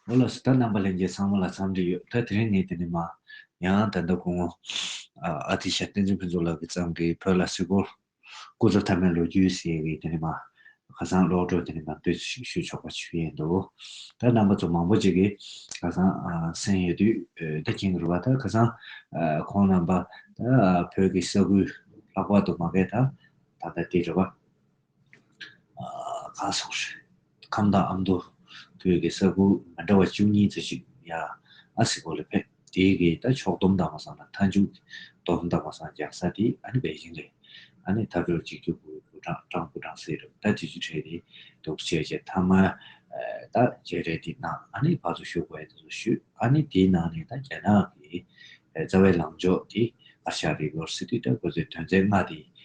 ཨོ་ལོ་སི་ད་རྣམ་པ་ལེན་རྒྱའི་ཚང་མ་ལ་འཚམས་འདྲི་ཡོད་ད་དེ་རིང་ནས་དེ་ནས་མ་ཡང་ད་ཟླ་དགུང་མོ་ཨ་ཏི་ཤ་བསྟན་འཛིན་ཕུན་ཚོགས་ལགས་ཀྱི་ཚང་གིས་བོད་ལ་སི་གོ་སྐུ་ཚབ་ཐ་མའི་ལོ་རྒྱུས་ཟེར་བའི་དེ་ནས་མ་ཁ་སང་ཀློག་གྲོས་དེ་ནས་མ་འབུད་ཚུལ་ཞིག་ཞུ་ཆོག་པ་ཞུ་ཡས་འདུག་ད་རྣམ་པ་ཚོ་མང་པོ་ཅིག་གིས་ཁ་སང་གསན་ཡོད་དུས་ད་མཁྱེན་གི་རུ་བ་ད་ཁ་སང་ཁོང་རྣམ་པ་ད་བོད་ཀྱི་ས་ཁུལ་ལྷག་པར་དུ་མ་སྐད་ད་ད་ད་དེ་རུ་བ། གང་སོགས་ཞུས། ཁམས་དང་ཨ་མདོ། བོད་ཀྱི་ས་ཁུལ་མི་འདྲ་བ་བཅུ་གཉིས་ཙུ་ཞིག་ཡང་ཨ་སི་ཀོ་ལ་ཕེབས། དེའི་གི་ད་ཕྱོགས་བསྡོམས་མདང་མ་སང་དང་མཐའ་མཇུག་གི་བསྡོམས་མདང་མ་སང་རྒྱག་ས་དེ་ཨ་ནི་བེ་ཞིང་རེད། ཨ་ནི་ཐབས་རོགས་གཅིག་གྱུར་པུའི་པུ་ཀྲང་ཀྲང་པུ་ཀྲང་སེ་རུ་ད་དུས་ཚོད་ཁྲལ་དེ་འདུག་བྱས་རྗེས་མཐའ་མ་ད་བརྗེ་རེས་དེ་གནང་ཨ་ནི་བར་དུ་ཞུགས་བས་སུ་ཞུས་ཨ་ནི་དེའི་ནང་ནས་ད་རྒྱ་ནག་གི་རྩ་བའི་ལངས་ཕྱོགས་དེ་ཨ་ཤ་རི་བོར་སི་ཏུས་ད་གོ་ཚོད་དོན་ཚན་ལྔ་དེ་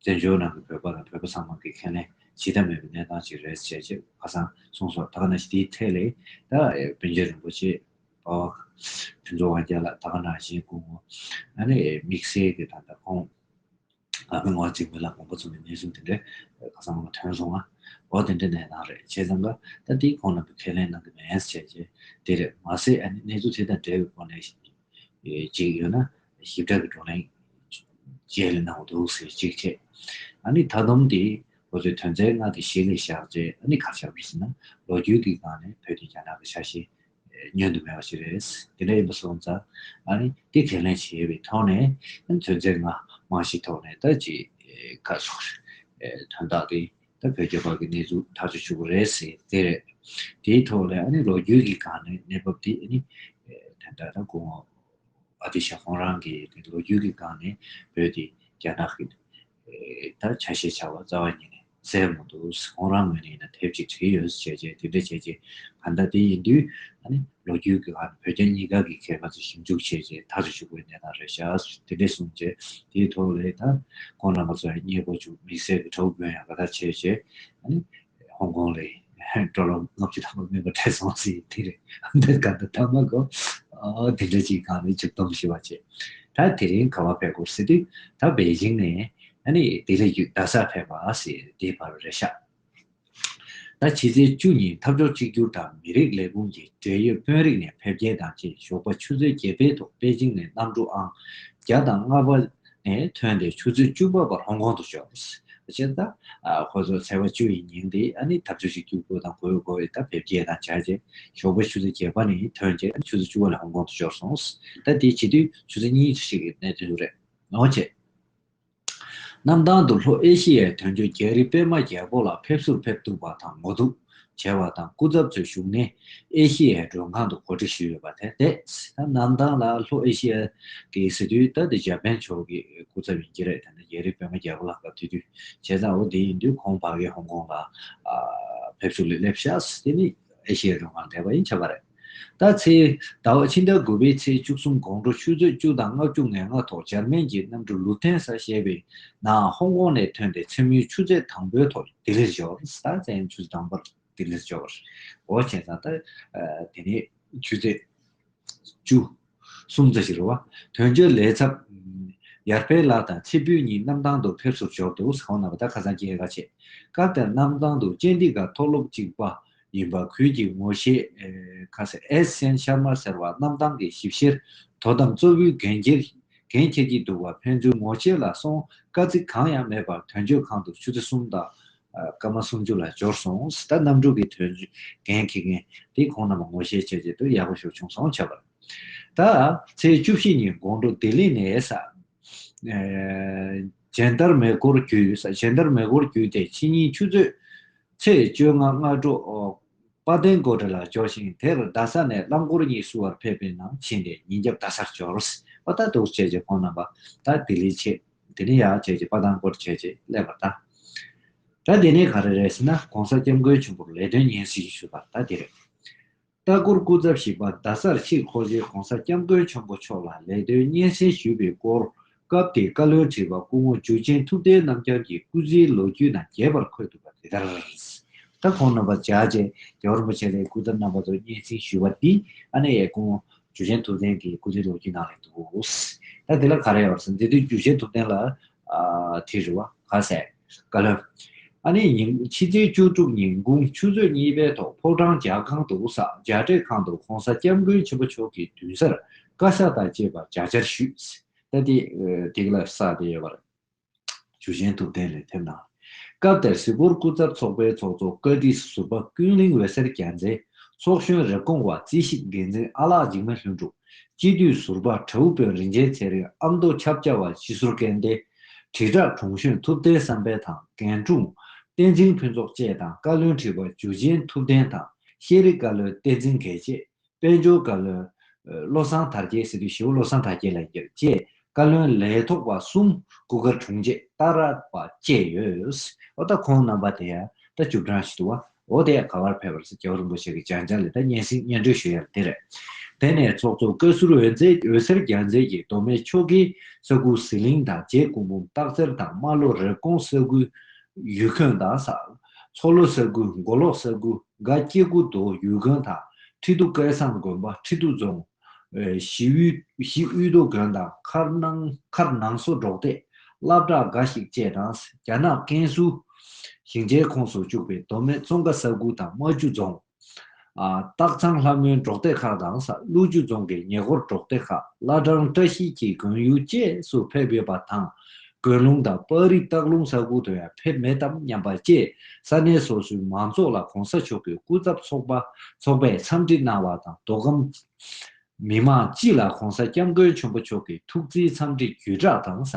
བཙན་བྱོལ་ནང་གི་བོད་པ་དང་བོད་པ་ཚང་མ་དགེ་མཁས་ལེན་བྱེད་ཐབས་མེད་པའི་གནས་སྟངས་ཅིག་རེད་ཅེས་ཀྱི་ཁ་སང་གསུངས་སོང་ད་ག་ནང་བཞིན་དེའི་ཐད་ལས་ད་བོན་ཆེན་རིན་པོ་ཆེས་པ་བ་ཕུན་ཚོགས་དབང་རྒྱལ་ལགས་ད་ག་ནང་བཞིན་དགུང་ངོ་ཨ་ནི་དམིགས་བསལ་གྱི་ད་ད་ཁོང་ཨ་ཕའི་ངོ་རྩིས་མི་ལ་དགོངས་པ་ཚུགས་ནས་གནས་ཚུལ་དེ་འདྲའི་ཁ་སང་ང་ཐོན་སོང་ང་འོ་དེ་འདྲའི་གནས་སྟངས་རེད་བྱས་ཙང་ག་ད་དེའི་ཁོང་རྣམ་པས་ཁས་ལེན་གནང་གི་མེད་ཟེར་ཀྱི་དེ་རེད་མ་ཟད་ཨ་ནི་གནས་ཚུལ་དེ་དང་འབྲེལ་བའི་སྒོ་ནས་གཅིག་ཡོད་ན་ཞིབ་ཕྲ་གི་བགྲོ་གླེང་བཅས་ལས་གནང་བ་འདུག་ཟེར་གཅིག་བྱས། ཨ་ནི་མཐའ་སྡོམ་དེ་ཁོ་ཚོའི་དོན་ཚན་ལྔ་དེ་ཞིག་ལས་བཞག་རྗེས་ཨ་ནི་གར་ཤར་བ་ཞིག་ན་ལོ་རྒྱུས་ཀྱི་སྒང་ནས་བོད་དེ་རྒྱ་ནག་གི་ཆ་ཤས་ཉོན་དུ་མེད་པ་ཞིག་རེད། དེ་འདྲ་ཡིན་པ་སོང་ཙང་ཨ་ནི་དེ་ཁས་ལེན་བྱས་པའི་ཐོག་ནས་དོན་ཚན་ལྔ་མང་ཞིག་ཐོག་ནས་ད་ཅི་ག་སོགས་དོན་དག་དེ་ད་བོད་རྒྱ་འབར་གྱི་གནས་ཚུལ་ཐག་གཅོད་བྱུང་བ་རེད་ཟེར་དེ་རེད། དེའི་ཐོག་ལ་ཨ་ནི་ལོ་རྒྱུས་ཀྱི་སྒང་ནས་གནས་བབ་དེ་ཨ་ནི། དེ་འདྲ་ད་གོ། ཨ་ཏི་ཤ་ཁོང་རང་གི་དེ་ལོ་རྒྱུས་ཀྱི་སྒང་ནས་བོད་དེ་རྒྱ་ནག་གི། ད་ཆ་ཞེས་བྱ་བ་རྩ་བ་ཉིད་ནས་ཟེར་མ་འདུག་ཁོང་རང་ངོས་ནས་ཡིན་ན་དེབ་ཅིག་བྲིས་ཡོད་ཟེར་བྱས་རྗེས་དེ་འདྲ་བྱས་རྗེས་ག་འདྲ་དེ་ཡིན་དུས་ཨ་ནི། ལོ་རྒྱུས་ཀྱི་ཁར་བོད་རྒྱ་གཉིས་ཀ་གི་མཁས་པ་ཚོས་ཞིབ་འཇུག་བྱས་རྗེས་མཐར་བཞུགས་པའི་གནས་དང་རེ་བཞག་དེ་འདྲས་གསུངས་རྗེས་དེའི་ཐོག་ལས་ད་ཁོང་རྣམ་པ་ཚོ་ཡང་རྙེད་དགོས་བྱུང་དམིགས་བསལ་གྱི་གྲོགས་དགོན་ཡང་ག་དར་བྱས་རྗེས་ཧོང་ཀོང་ལས་སྤྲོ་ལོ་ལྔ་བཅུ་ལྷག་མ་མིན་པར་བྲལ་སོང་ཟིན་དེ་རེད་འདིར་ག་དར་ཐང་མ་གོ་དེ་འདྲ་ཅིག་གང་ལས་མཇུག་སྡོམ་ཞུ་བ་བྱས། ད་དེ་རིང་ག་བ་ཕེབས་སྐོར་ཟེར་དུས་ད་པེ་ཅིང་ནས་དེ་ལས་རྒྱུད་རྡ་སར་ཕེབས་པ་ཟེར་དེའི་བར་རེ་བཞག་ཟླ་ཕྱི་ཚེས་བཅུ་ཉིན་འཐབ་ཕྱོགས་གཅིག་གྱུར་དང་མི་རིགས་ལས་ཁུངས་ཀྱི་འབྲེལ་ཡོད་དཔོན་རིགས་ནས་ཕེབས་རྒྱལ་དང་བཅས་ཞོགས་པ་ཆུ་ཚོད་བརྒྱད་པའི་ཐོག་པེ་ཅིང་ནས་གནམ་གྲུ་ཨང་བརྒྱ་དང་ལྔ་པ་ནས་ཐོན་ཏེ་ཆུ་ཚོད་བཅུ་པ་བར་ཧོང་ཀོང་དུ་བྱོན། ཕྱིར་ཟླ་ཁོ་ཚོ་ཚེས་པ་བཅུ་ཡི་ཉིན་དེ་ནི་འཐབ་ཕྱོགས་གཅིག་གྱུར་སྒོས་དང་གོ་བའི་སྒོ་འོད་དང་ཕེབས་རྒྱལ་དང་བཅས་རྗེས་ཞོགས་པ་ཆུ་ཚོད་བརྒྱད་པ་ནས་ཐོན་རྗེས་ཆུ་ཚོད་བཅུ་བ་ལ་ཧོང་ཀོང་དུ་འབྱོར་སོང། ཟླ་དེའི་བྱིས་དུས་ཆུ་ཚོད་གཉིས་ཤིག་གི་གནད་དོན་རེད། ནོར་ཆེ། གནམ་ཐང་དུ་ལྷོ་ཨེ་ཤི་ཡའི་དོན་གཅོད་རྒྱ་རི་པད་མ་རྒྱལ་པོ་ལ་ཕེབས་བསུར་ཕེབས་འདུག་པ་དང་ངོ་གཏུག་བྱས་པ་དང་སྐུ་ཚབ་ཚོའི་བཞུགས་གནས་ཨེ་ཤི་ཡའི་མགྲོན་ཁང་དུ་གོ་སྒྲིག་ཞུས་ཡོད་པ་དེར་བལྟས་ཚེ་ད་གནམ་ཐང་ལ་ལྷོ་ཨེ་ཤི་ཡའི་གི་སི་དུས་ད་དེ་འཇར་པན་ཕྱོགས་ཀྱི་སྐུ་ཚབ་ཡིན་གྱི་རེད་དེ་ནི་རྒྱ་རི་པད་མ་རྒྱལ་པོ་ལ་སྐབས་དེ་དུས་བྱས་ཙང་བོ་དེ་ཡིན་དུས་ཁོང་བྷ་གའི་ཧོང་ཀོང་ལ་ཕེབས་བསུ་ལས་སླེབས་ཤག་དེ་ནི་ཨེ་ཤི་ཡའི་མགྲོན་ཁང་འདས་པ་ཡིན་ཆ་པ་རེད། ད་ཚེས་ཟླ་བ་ཕྱི་ཟླ་དགུ་པའི་ཚེས་བཅུ་གསུམ་དགོང་དྲོ་ཆུ་ཚོད་བཅུ་དང་ལྔ་བཅུ་ངའི་སྔ་ཐོག་འཇར་མན་གྱི་གནམ་གྲུ་ལུ་ཐན་སཱ་ཞེས་པའི་ནང་ཧོང་ཀོང་ནས་ཐོན་ཏེ་མཚན་མོའི་ཆུ་ཚོད་དང་པོའི་ཐོག་ལྡི་ལིར་འབྱོར། ཟླ་མཚན་ཆུ་ཚོད་དང་པོར་ལྡི་ལིར་འབྱོར་བར་འོ་བྱས་ཙང་ད། དེ་ནས་ཆུ་ཚོད་བཅུ། སུམ་བརྩེགས་ཀྱི་རུ་བ། དོན་བརྒྱུད་ལས་ཚབ། ཡར་འཕེལ་ལགས་དང་ཚེ་འབུལ་གཉིས་གནམ་ཐང་དུ་ཕེབས་བསུར་འབྱོར་འདུག་ཟ་ཁང་ནང་པ་དག་ཁ་སང་སྐྱེལ་རྒ་བྱས། སྐབས་དེར་གནམ་ཐང་དུ་ཅན་ཏི་ག་མཐོ་སློབ་གཅིག་པ་ཡིན་པ་ཁུལ་གྱི་ངོ་ཤེས། ཨེས་སན་ཤར་མར་ཟེར་བ་གནམ་ཐང་གི་ཞིབ་བཤེར་དོ་དམ་གཙོ་བོའི་འགན་འཁྱེར་གྱི་འདུག་པ་ཕན་ཚུན་ངོ་ཤེས་ལ་སོང་དཀའ་ཚེགས་གང་ཡང་མེད་པར་དོན་གཅོད་ཁང་དུ་ཆུ་ཚོད་གསུམ་དང་སྐར་མ་སུམ་ཅུ་ལ་འབྱོར་སོང། ད་གནམ་གྲུ་གི་དོན་རྒན་ཁྱི་རྒན་དེས་ཁོང་རྣམས་ལ་ངོ་ཤེས་བྱས་བྱས་དུས་ཡག་པོ་ཞོག་བྱུང་སོང་བྱས་པར། ད་ཚེས་བཅུ་བཞི་ཉིན་དགོང་དྲོ་ལྡི་ལི་ནས། ཇན་ཏར་མེ་སྒོར་བརྒྱུད། ཇན་ཏར་མེ་སྒོར་བརྒྱུད་དེ་ཕྱི་ཉིན་ཆུ་ཚོད། ཚེས་བཅོ་ལྔ་སྔ་དྲོ། དཔའ་ལྡན་དགོད་སྒྲ་ལ་འབྱོར་ཞིང་དེར་རྡ་ས་ནས་རླངས་འཁོར་གཉིས་བསུ་བར་ཕེབས་པའི་ནང་ཕྱིན་ཏེ་ཉིན་རྒྱབ་རྡ་སར་འབྱོར། ཨོ་ད་འདུག་བྱས་བྱས་ཁོང་རྣམས་པ་ད་ལྡི་ལི་ཆེད། དེ་ནི་ཡག་བྱས་རྗེས་དཔའ་ཐང་སྐོར་བྱས་རྗེས་ཀླད་པར་བལྟ། ད་དེ་ནི་ག་རེ་རེད་ཟེར་ན ྋགོང་ས་སྐྱབས་མགོན་ཆེན་པོར་ལས་དོན་སྙན་སེང་ཞུས་པར་ད་དེ་རེད། ལྟ་སྐོར་སྐུ་ཚབ་ཞིག་པ་རྡ་སར་ཕྱིར་འཁོར་རྗེས ྋགོང་ས་སྐྱབས་མགོན་ཆེན་པོ་མཆོག་ལ་ལས་དོན་སྙན་སེང་ཞུས་པའི་སྐོར་སྐབས་དེའི་བཀའ་བློན་ཁྲི་པ་སྐུ་ངོ་འཇུ་ཆེན་ཐུབ་བསྟན་རྣམ་རྒྱལ་གྱི་སྐུ་ཚེའི་ལོ་རྒྱུས་ནང་རྒྱས་པར་འཁོད་འདུག་པ་དེ་ལྟར། ད་ཁོང་རྣམ་པར་བཅར་རྗེས་རྒྱལ་བ་རིན་པོ་ཆེ་ལས་སྐུ་ཚབ་རྣམ་པ་ཚོར་སྙན་སེང་ཞུས་པ་འདིས་ཨ་ནེ་ཡའི་སྐུ་ངོ་རྒྱུ་ཆེན་ཐུབ་བསྟན་གྱི་སྐུ་ཚེའི་ལོ་རྒྱུས་ནང་ལས་འདུག། ད་དེ་ལ་ག་རེ་ཡོད་ཟེར་ན་དེ་དུས་རྒྱུ་ཆེན་ཐུབ་བསྟན་ལ་དེ་རི་བ། ག་ཟེར། བཀའ་བློན། ཨ་ནེ་ཉིན་ཕྱི་ཚེས་བཅུ་དྲུག་ཉིན་དགུང་ཆུ་ཚོད་གཉིས་པའི་ཐོག་ཕོ་བྲང་རྒྱ་ཁང་དུ་བསགས་རྒྱ་བགྲེས་ཁང་དུ ྋགོང་ས ྋསྐྱབས་མགོན་ཆེན་པོ་མཆོག་གི་མདུན་སར་བཀའ་ཤག་དང་བཅས་པ་བརྒྱ་ཆར་ཞུས། ད་དེ་དེ་ག་ལ་བསགས་བསྡད་ཡོད་པ་རེད། ཇུ་ཆེན་ཐུབ་བསྟན་ལས་ཕེབས་གནང། སྐབས་དེར་གཟིགས་སྐོར་སྐུ་ཚབ་ཚོགས་པའི་ཚོགས་གཙོ་བཀའ་ཁྲི་ཟུར་པ་ཀུན་གླིང་འོད་ཟེར་རྒྱལ་མཚན། ཚོགས་གཞོན་རེབ་གོང་བ་རྩིས་ཞིབ་འགན་འཛིན་ཨ་ལགས་འཇིགས་མེད་ལྷུན་གྲུབ། སྤྱི་འཐུས་ཟུར་པ་དྲ་བོ་དཔོན་རིན་ཆེན་ཚེ་རིང་ཨ་མདོ་ཆབ་ཆ་བ་སྤྱི་ཟུར་སྐལ་ལྡན། དྲིལ་བསྒྲགས་དྲུང་གཞོན་ཐུབ་བསྟན་བསམ་འཕེལ་དང་རྒན་དྲུང། བསྟན་འཛིན་ཕུན་ཚོགས་བཅས་དང་བཀའ་བློན་ཁྲི་པ་ཇུ་ཆེན་ཐུབ་བསྟན་དང་ཤེས་རིག་བཀའ་བློན་བསྟན་འཛིན་དགེ་བྱེད། དཔལ་འབྱོར་བཀའ་བློན། བློ་བཟང་དར་རྒྱས་ཟེར་དུས་ཞེ་བོ་བློ་བཟང་དར་རྒྱས་ལ་ཡིན་རྒྱུ་རེད། བཅས་བཀའ་བློན་ལས་ཐོག་པ་གསུམ་སྐུ་སྒར་དྲུང་ཆེ་རྟ་ར་པ་བཅས་ཡོད། ཨོ་ད་ཁོང་རྣམ་པ་དེ་ཡ་ད་བཅུ་བགྲང་ཞིག་འདུག་བ། ཨོ་ད་ཡ་ག་བར་ཕེབས་པར་ཟེར་རྒྱལ་བ་རིན་པོ་ཆེ་གི་སྦྱང་བྱང་ལས་ད་སྙན་སེང་སྙན་སྒྲོན་ཞུ་ཡ་ལ་དེ་རེད། དེ་ནས་ཚོགས་གཙོ་བཀའ་ཟུར་འོད་ཟེར་རྒྱལ་མཚན་གྱིས་མདོ་སྨད་ཆོལ་ཁའི་ས་ཁུལ་ཟི་ལིང་དང་རྗེ་སྐུ་འབུམ་སྟག་རྩེར་དང་རྨ་ལྷོ་རེབ་གོང་ས་ཁུལ་ཡུལ་ཁམས་དང། མཚོ་ལྷོ་ས་ཁུལ་མགོ་ལོག་ས་ཁུལ་དགའ་སྐྱེ་དགུ་མདོ་ཡུལ་དགོན་དང་ཁྲི་འདུ་སྐལ་བཟང་དགོན་པ་ཁྲི་འདུ་རྫོང། གཞིས་དབུས་མདོ་དགོན་དང་མཁར་ནང་སོ་འབྲོག་སྟེ་བླ་བྲག་དགའ་ཞིག་བཅས་དང་རྒྱ་ནག་ཀན་སུའུ་ཞིང་ཆེན་ཁོངས་སུ་བཅུག་པའི་མདོ་སྨད་ཙོང་ཁ་ས་ཁུལ་དང་རྨ་ཆུ་རྫོང། སྟག་ཚང་ལྷ་མོའི་འབྲོག་སྡེ་ཁག་དང་ས་ཀླུ་ཆུ་རྫོང་གི་ཉེ་འཁོར་འབྲོག་སྡེ་ཁག་བླ་བྲང་བཀྲ་ཤིས་ཀྱི་དགོན་ཡུལ་བཅས་སུ་ཕེབས་ཡོད་པ་དང། དགོན་ལུང་དང་པར་རིས་སྟག་ལུང་ས་ཁུལ་དུ་ཡང་ཕེབས་མེད་དམ་སྙམ་པ་བཅས་ས་གནས་སོ་སོའི་མང་ཚོགས་ལ་གོང་ས་མཆོག་གི་སྐུ་ཚབ་ཚོགས་པས་འཚམས་འདྲི་གནང་བ་དང་དོ་དམ། མི་དམངས་སྤྱི་ལ ྋགོང་ས ྋསྐྱབས་མགོན་ཆེན་པོ་མཆོག་གི་ཐུགས་བརྩེའི་འཚམས་འདྲི་བརྒྱུད་བསྒྲགས་དང་ས་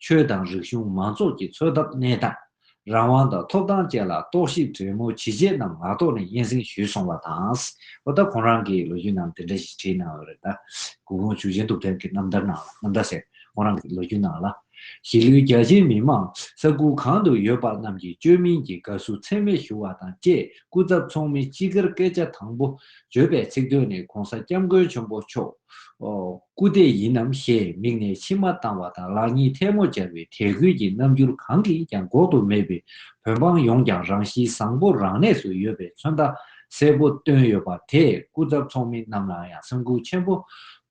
ཆོལ་དང་རིག་གཞུང་མང་ཚོགས་ཀྱི་འཚོ་ཐབས་གནས་སྟངས། རང་དབང་དང་ཐོབ་ཐང་བཅས་ལ་རྟོག་ཞིབ་དྲོན་མོ་ཇི་བྱས་རྣམས་ངག་ཐོག་ནས་སྙན་གསེང་ཞུས་སོང་བ་དང། ཨོ་ད་ཁོང་རང་གིས་ལོ་རྒྱུས་ནང་དེ་འདྲ་ཞིག་བྲིས་གནང་ཡོད་རེད་ད། གུ་གུང་ཆུ་ཆེན་དུག་ཐན་གྱི་རྣམ་ཐར་ནང་ལ་རྣམ་ཐར་ཟེར་ཁོང་རང་གི་ལོ་རྒྱུས་ནང་ལ། གཞིས་ལུས་རྒྱ་ཆེའི་མི་དམངས་ས་ཁུལ་གང་དུ་ཡོད་པ་རྣམས་ཀྱིས་བཅོས་མིན་གྱི་དགའ་བསུ་ཚད་མེད་ཞུ་བ་དང་བཅས། སྐུ་ཚབ་ཚོགས་མི་སྤྱི་སྒེར་སྐད་ཆ་དང་པོ་བརྗོད་པའི་ཚིག་དོན་ནི་གོང་ས་སྐྱབས་མགོན་ཆེན་པོ་མཆོག་སྐུ་དེ་ཡིན་ནམ་ཞེས་མིག་ནས་མཆི་མ་བཏང་བ་དང་ལག་གཉིས་ཐལ་མོ་སྦྱར་བའི་དད་གུས་ཀྱི་རྣམ་འགྱུར་གང་གིས་ཀྱང་འགོག་ཏུ་མེད་པའི་བོད་འབངས་ཡོངས་ཀྱང་རང་གཤིས་བཟང་པོ་རང་གནས་སུ་ཡོད་པའི་མཚོན་རྟགས་གསལ་པོ་བཏོན་ཡོད་པ་དེས་སྐུ་ཚབ་ཚོགས་མི་རྣམས་ལའང་ཡང་སེམས་འགུག་ཆེན་པོ་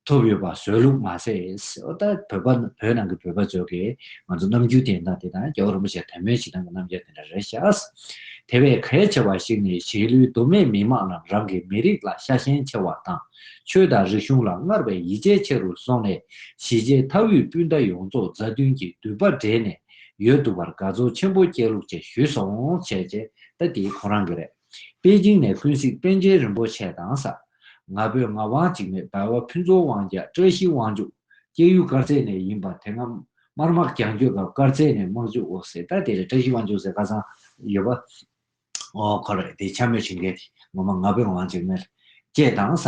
ཐོབ་ཡོད་པ་བཟོས་ལུགས་མ་ཟད། ད་བོད་པ་བོད་ནང་གི་བོད་པ་ཚོ་གི་ང་ཚོ་ནམ་རྒྱུན་དེ་དང་དེ་དང་རྒྱལ་བོ་རིན་པོ་ཆེ་དད་མོས་བྱེད་སྟངས་ཀྱི་རྣམ་རྒྱལ་དེ་འདྲ་རེད་ཤག། དེ་བས་གལ་ཆེ་བ་ཞིག་ནི་གཞིས་ལུས་མདོ་སྨད་མི་དམངས་རྣམས་རང་གི་མི་རིགས་ལ་ཤ་ཞེན་ཆེ་བ་དང་ཆོས་དང་རིག་གཞུང་ལ་སྔར་བས་ཡིད་ཆེས་ཆེ་རུ་སོང་ནས་གཞིས་བྱེས་མཐའ་དབུས་སྤུན་ཟླ་ཡོངས་རྫོགས་མཛའ་མཐུན་གྱི་མདུད་པ་སྦྲེལ་ནས་ཡོད་འདུག་པར་དགའ་ཚོར་ཆེན་པོ་སྐྱེས་ལུགས་བཅས་ཞུས་སོང། བྱས་རྗེས་ད་དེ་ཁོང་རང་གི་རེད། པེ་ཅིང་ནས་ཀུན་གཟིགས་པཎ་ཆེན་རིན་པོ་ཆེ་དང་ས་ང་བོད་ངག་དབང་འཇིགས་མེད་བར་བ་ཕུན་ཚོགས་དབང་རྒྱལ་བཀྲ་ཤིས་དབང་ཕྱུག་སྐྱེ་ཡུལ་དཀར་མཛེས་ནས་ཡིན་པ་དེ་སྔ་དམར་དམག་རྒྱང་སྐྱོད་སྐབས་དཀར་མཛེས་ནས་དམག་འཇུག་འོག་ཟེར་ད་དེ་རེད་བཀྲ་ཤིས་དབང་ཕྱུག་ཟེར་ཁ་སང་ཡོད་པ། ཨོ་ཁོ་རེད་དེ་འཕྱ་སྨོད་བྱེད་མཁན་དེ་ངོ་མ་ང་བོད་ངག་དབང་འཇིགས་མེད་རེད། ཅེས་དང་ས་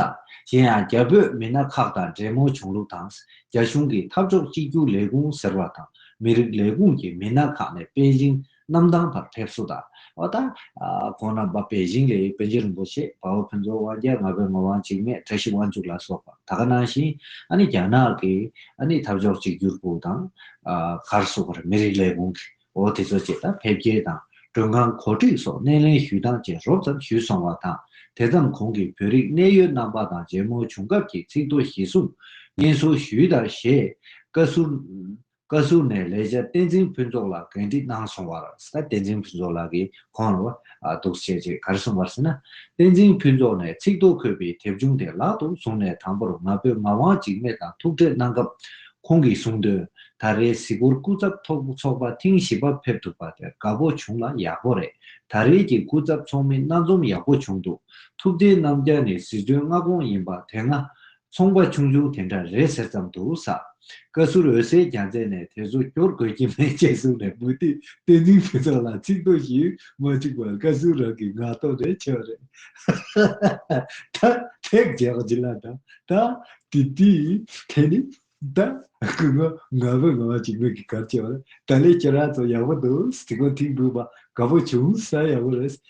གཞན་ཡང་རྒྱ་བོད་མི་སྣ་ཁག་དང་འབྲེལ་མོ་བྱུང་ལུགས་དང་རྒྱ་གཞུང་གིས་འཐབ་ཕྱོགས་གཅིག་གྱུར་ལས་ཁུངས་ཟེར་བ་དང་མི་རིགས་ལས་ཁུངས་ཀྱི་མི་སྣ་ཁག་ནས་པེ་ཅིང་གནམ་ཐང་བར་ཕེབས་བསུ་དང། བ་དང། གོང་ན་བབས་པའི་དབྱིངས་ལས་པཎ་ཆེན་རིན་པོ་ཆེ་དཔའ་བོ་ཕུན་ཚོགས་དབང་རྒྱལ་ང་པའི་ངོར་དབང་འཇིགས་མེད་བཀྲ་ཤིས་དབང་ཕྱུག་ལ་སོགས་པ་ད་ག་གནང་ཞིང་ཨ་ནི་རྒྱ་ནག་གི་ཨ་ནི་འཐབ་ཕྱོགས་གཅིག་གྱུར་པུའུ་དང། གྷར་བསུ་བར་མི་རིགས་ལས་ཁུངས་ཀྱི་འོ་དེ་ཚོ་བཅས་དང་ཕེབས་སྐྱེལ་དང་མགྲོན་ཁང་གོ་སྒྲིག་སོགས་སྣེ་ལེན་ཞུས་སྟངས་བཅས་རོབ་ཙམ་ཞུས་སོང་བ་དང་དེ་ཙམ་གོང་གི་བོད་རིགས་གནད་ཡོད་རྣམ་པ་དང་མཇལ་མོ་བྱུང་སྐབས་ཀྱི་ཚིག་ཐོ་གཞི་བཟུང་སྙན་གསུང་ཞུས་དང་ཞེས་བཀའ་ཟུར་བཀའ་ཟུར་ནས་ལས་བྱེད་བསྟན་འཛིན་ཕུན་ཚོགས་ལགས་གན་དཀྲི་གནང་སོང་བར། བསྟན་འཛིན་ཕུན་ཚོགས་ལགས་ཀྱིས་ཁོང་ལ་དུག་སྤྱད་ཅེས་གར་སོང་བར་སེམས་ན། བསྟན་འཛིན་ཕུན་ཚོགས་ནས་ཚིག་ཐོ་འཁོད་པའི་དེབ་ཆུང་དེ་ལག་ཏུ་བཟུང་ནས་དང་པོར་ང་ཕོད་ངག་དབང་འཇིགས་མེད་དང་ཐུག་འཕྲད་གནང་སྐབས། ཁོང་གིས་གསུང་དོན། ད་རེའི་གཟིགས་སྐོར་སྐུ་ཚབ་ཐོག་ཚོགས་པ་ཐེངས་བཞི་པ་ཕེབས་ཐུབ་པ་དེ་དགའ་པོ་བྱུང་ལ་ཡག་པོ་རེད། ད་རེས་ཀྱི་སྐུ་ཚབ་ཚོགས་མི་སྣ་འཛོམས་ཡག་པོ་བྱུང་འདུག་ཐུབ་བསྟན་རྣམ་རྒྱལ་ནི་སྲིད་དོན་མངའ་ཁོངས་ཡིན་པ་དེ་སྔ་ཚོང་པ་ཆུང་ཆུང་དེ་འདྲ་རེད་ཟེར་ཙམ་དུ་ཟ། བཀའ་ཟུར་འོད་ཟེར་རྒྱ་མཚན་ནས་དེ་ཚོ་སྐྱོར་དགོས་ཀྱི་མེད་ཅེས་གསུངས་ནས་མུ་ཏིག་བསྟན་འཛིན་ཕུན་ཚོགས་ལ་ཚིག་ཐོ་ཞིག་མ་བཅུག་པར་བཀའ་ཟུར་རང་གིས་ངག་ཐོག་ནས་འཆད་པ་རེད། ད་ཐེག་རྒྱག་བྱེད་ལ་ད་ད་དེ་དེའི་ཐད་ནས་ད་སྐུ་ངོ་ང་བོད་ནང་བ་ཞིག་མིན་གི་གར་བྱེད་པ་རེད་ད་ལས་ཁྱེད་རང་ཚོ་ཡག་པོ་འདུག་དེ་གོ་ཐིག་འབུལ་བ་དགའ་པོ་བྱུང་ས་ཡག་པོ་རེད་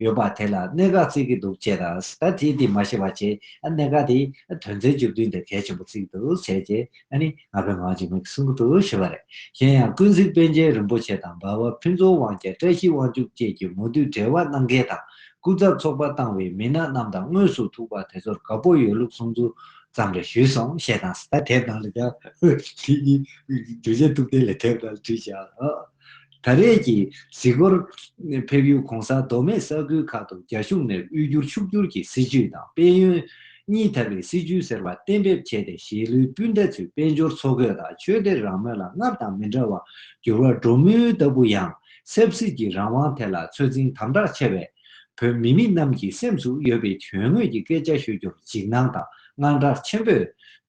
ཡོད་པ་དེ་ལ་གནད་འགག་བརྩིས་ཀྱི་འདུག་ཅེས་དང་ད་དེས་དེ་མ་ཤེས་པ་བྱས་གནད་འགག་དེ་དོན་ཚན་བཅུ་བདུན་དེ་གལ་ཆེན་པོ་བརྩིས་ཀྱི་འདུག་བྱས་རྗེས་ནི་ང་ཕོད་ངང་འཇིགས་མེད་ཀྱི་གསུང་གི་འདུག་ཞུས་པ་རེད། གཞན་ཡང་ཀུན་གཟིགས་དཔལ་རྒྱལ་རིན་པོ་ཆེ་དང་འབའ་བ་ཕུན་ཚོགས་དབང་རྒྱལ་བཀྲ་ཤིས་དབང་ཕྱུག་བཅས་ཀྱིས་མོ་བསྡུས་འབྲེལ་བ་གནང་མཁན་དང་སྐུ་ཚབ་ཚོགས་པ་བཏང་བའི་མི་སྣ་རྣམས་དང་དངོས་སུ་ཐུག་པ་དེ་ཚོར་དགའ་པོ་ཡོད་ལུགས་གསུང་ཚུལ་ཙམ་རེ་ཞུས་སོང་ཞེས་དང་ད་དེབ་ནང་ལ་ཀྱང་དེ་གཉིས་བརྗོད་བྱའི་ཐུགས་བསྟན་ལས་དེབ་ནང་ལ་བྲིས་བཞག་ཨོ། ད་རེས་ཀྱི་གཟིགས་སྐོར་ཕེབས་ཡུལ་གོང་ས་མདོ་སྨད་ས་ཁུལ་ཁག་ཏུ་རྒྱ་གཞུང་ནས་དབུལ་སྐྱོར་ཕྱུག་སྒྱུར་གྱི་སྲིད་ཇུས་དང་དཔལ་ཡོན་གཉིས་དར་བའི་སྲིད་ཇུས་ཟེར་བ་གཏན་འབེབས་བྱས་ཏེ་གཞིས་ལུས་སྤུན་ཟླ་ཚོས་དཔལ་འབྱོར་འཚོ་གོས་དང་ཆོས་དད་རང་མོས་ལ་སྔར་དང་མི་འདྲ་བར་འགྱུར་བ་འགྲོ་མུས་ལྟ་བུ་ཡང་ཆབ་སྲིད་ཀྱི་རང་དབང་ཐད་ལ་ཚོད་འཛིན་དམ་དྲག་ཆེ་བས། བོད་མི་མི་རྣམས་ཀྱི་སེམས་སུ་ཡོད་པའི་དོན་དངོས་ཀྱི་སྐད་ཆ་ཤོད་རྒྱུར་འཇིགས་སྣང་དང་དངངས་སྐྲག་ཆེན་པོས་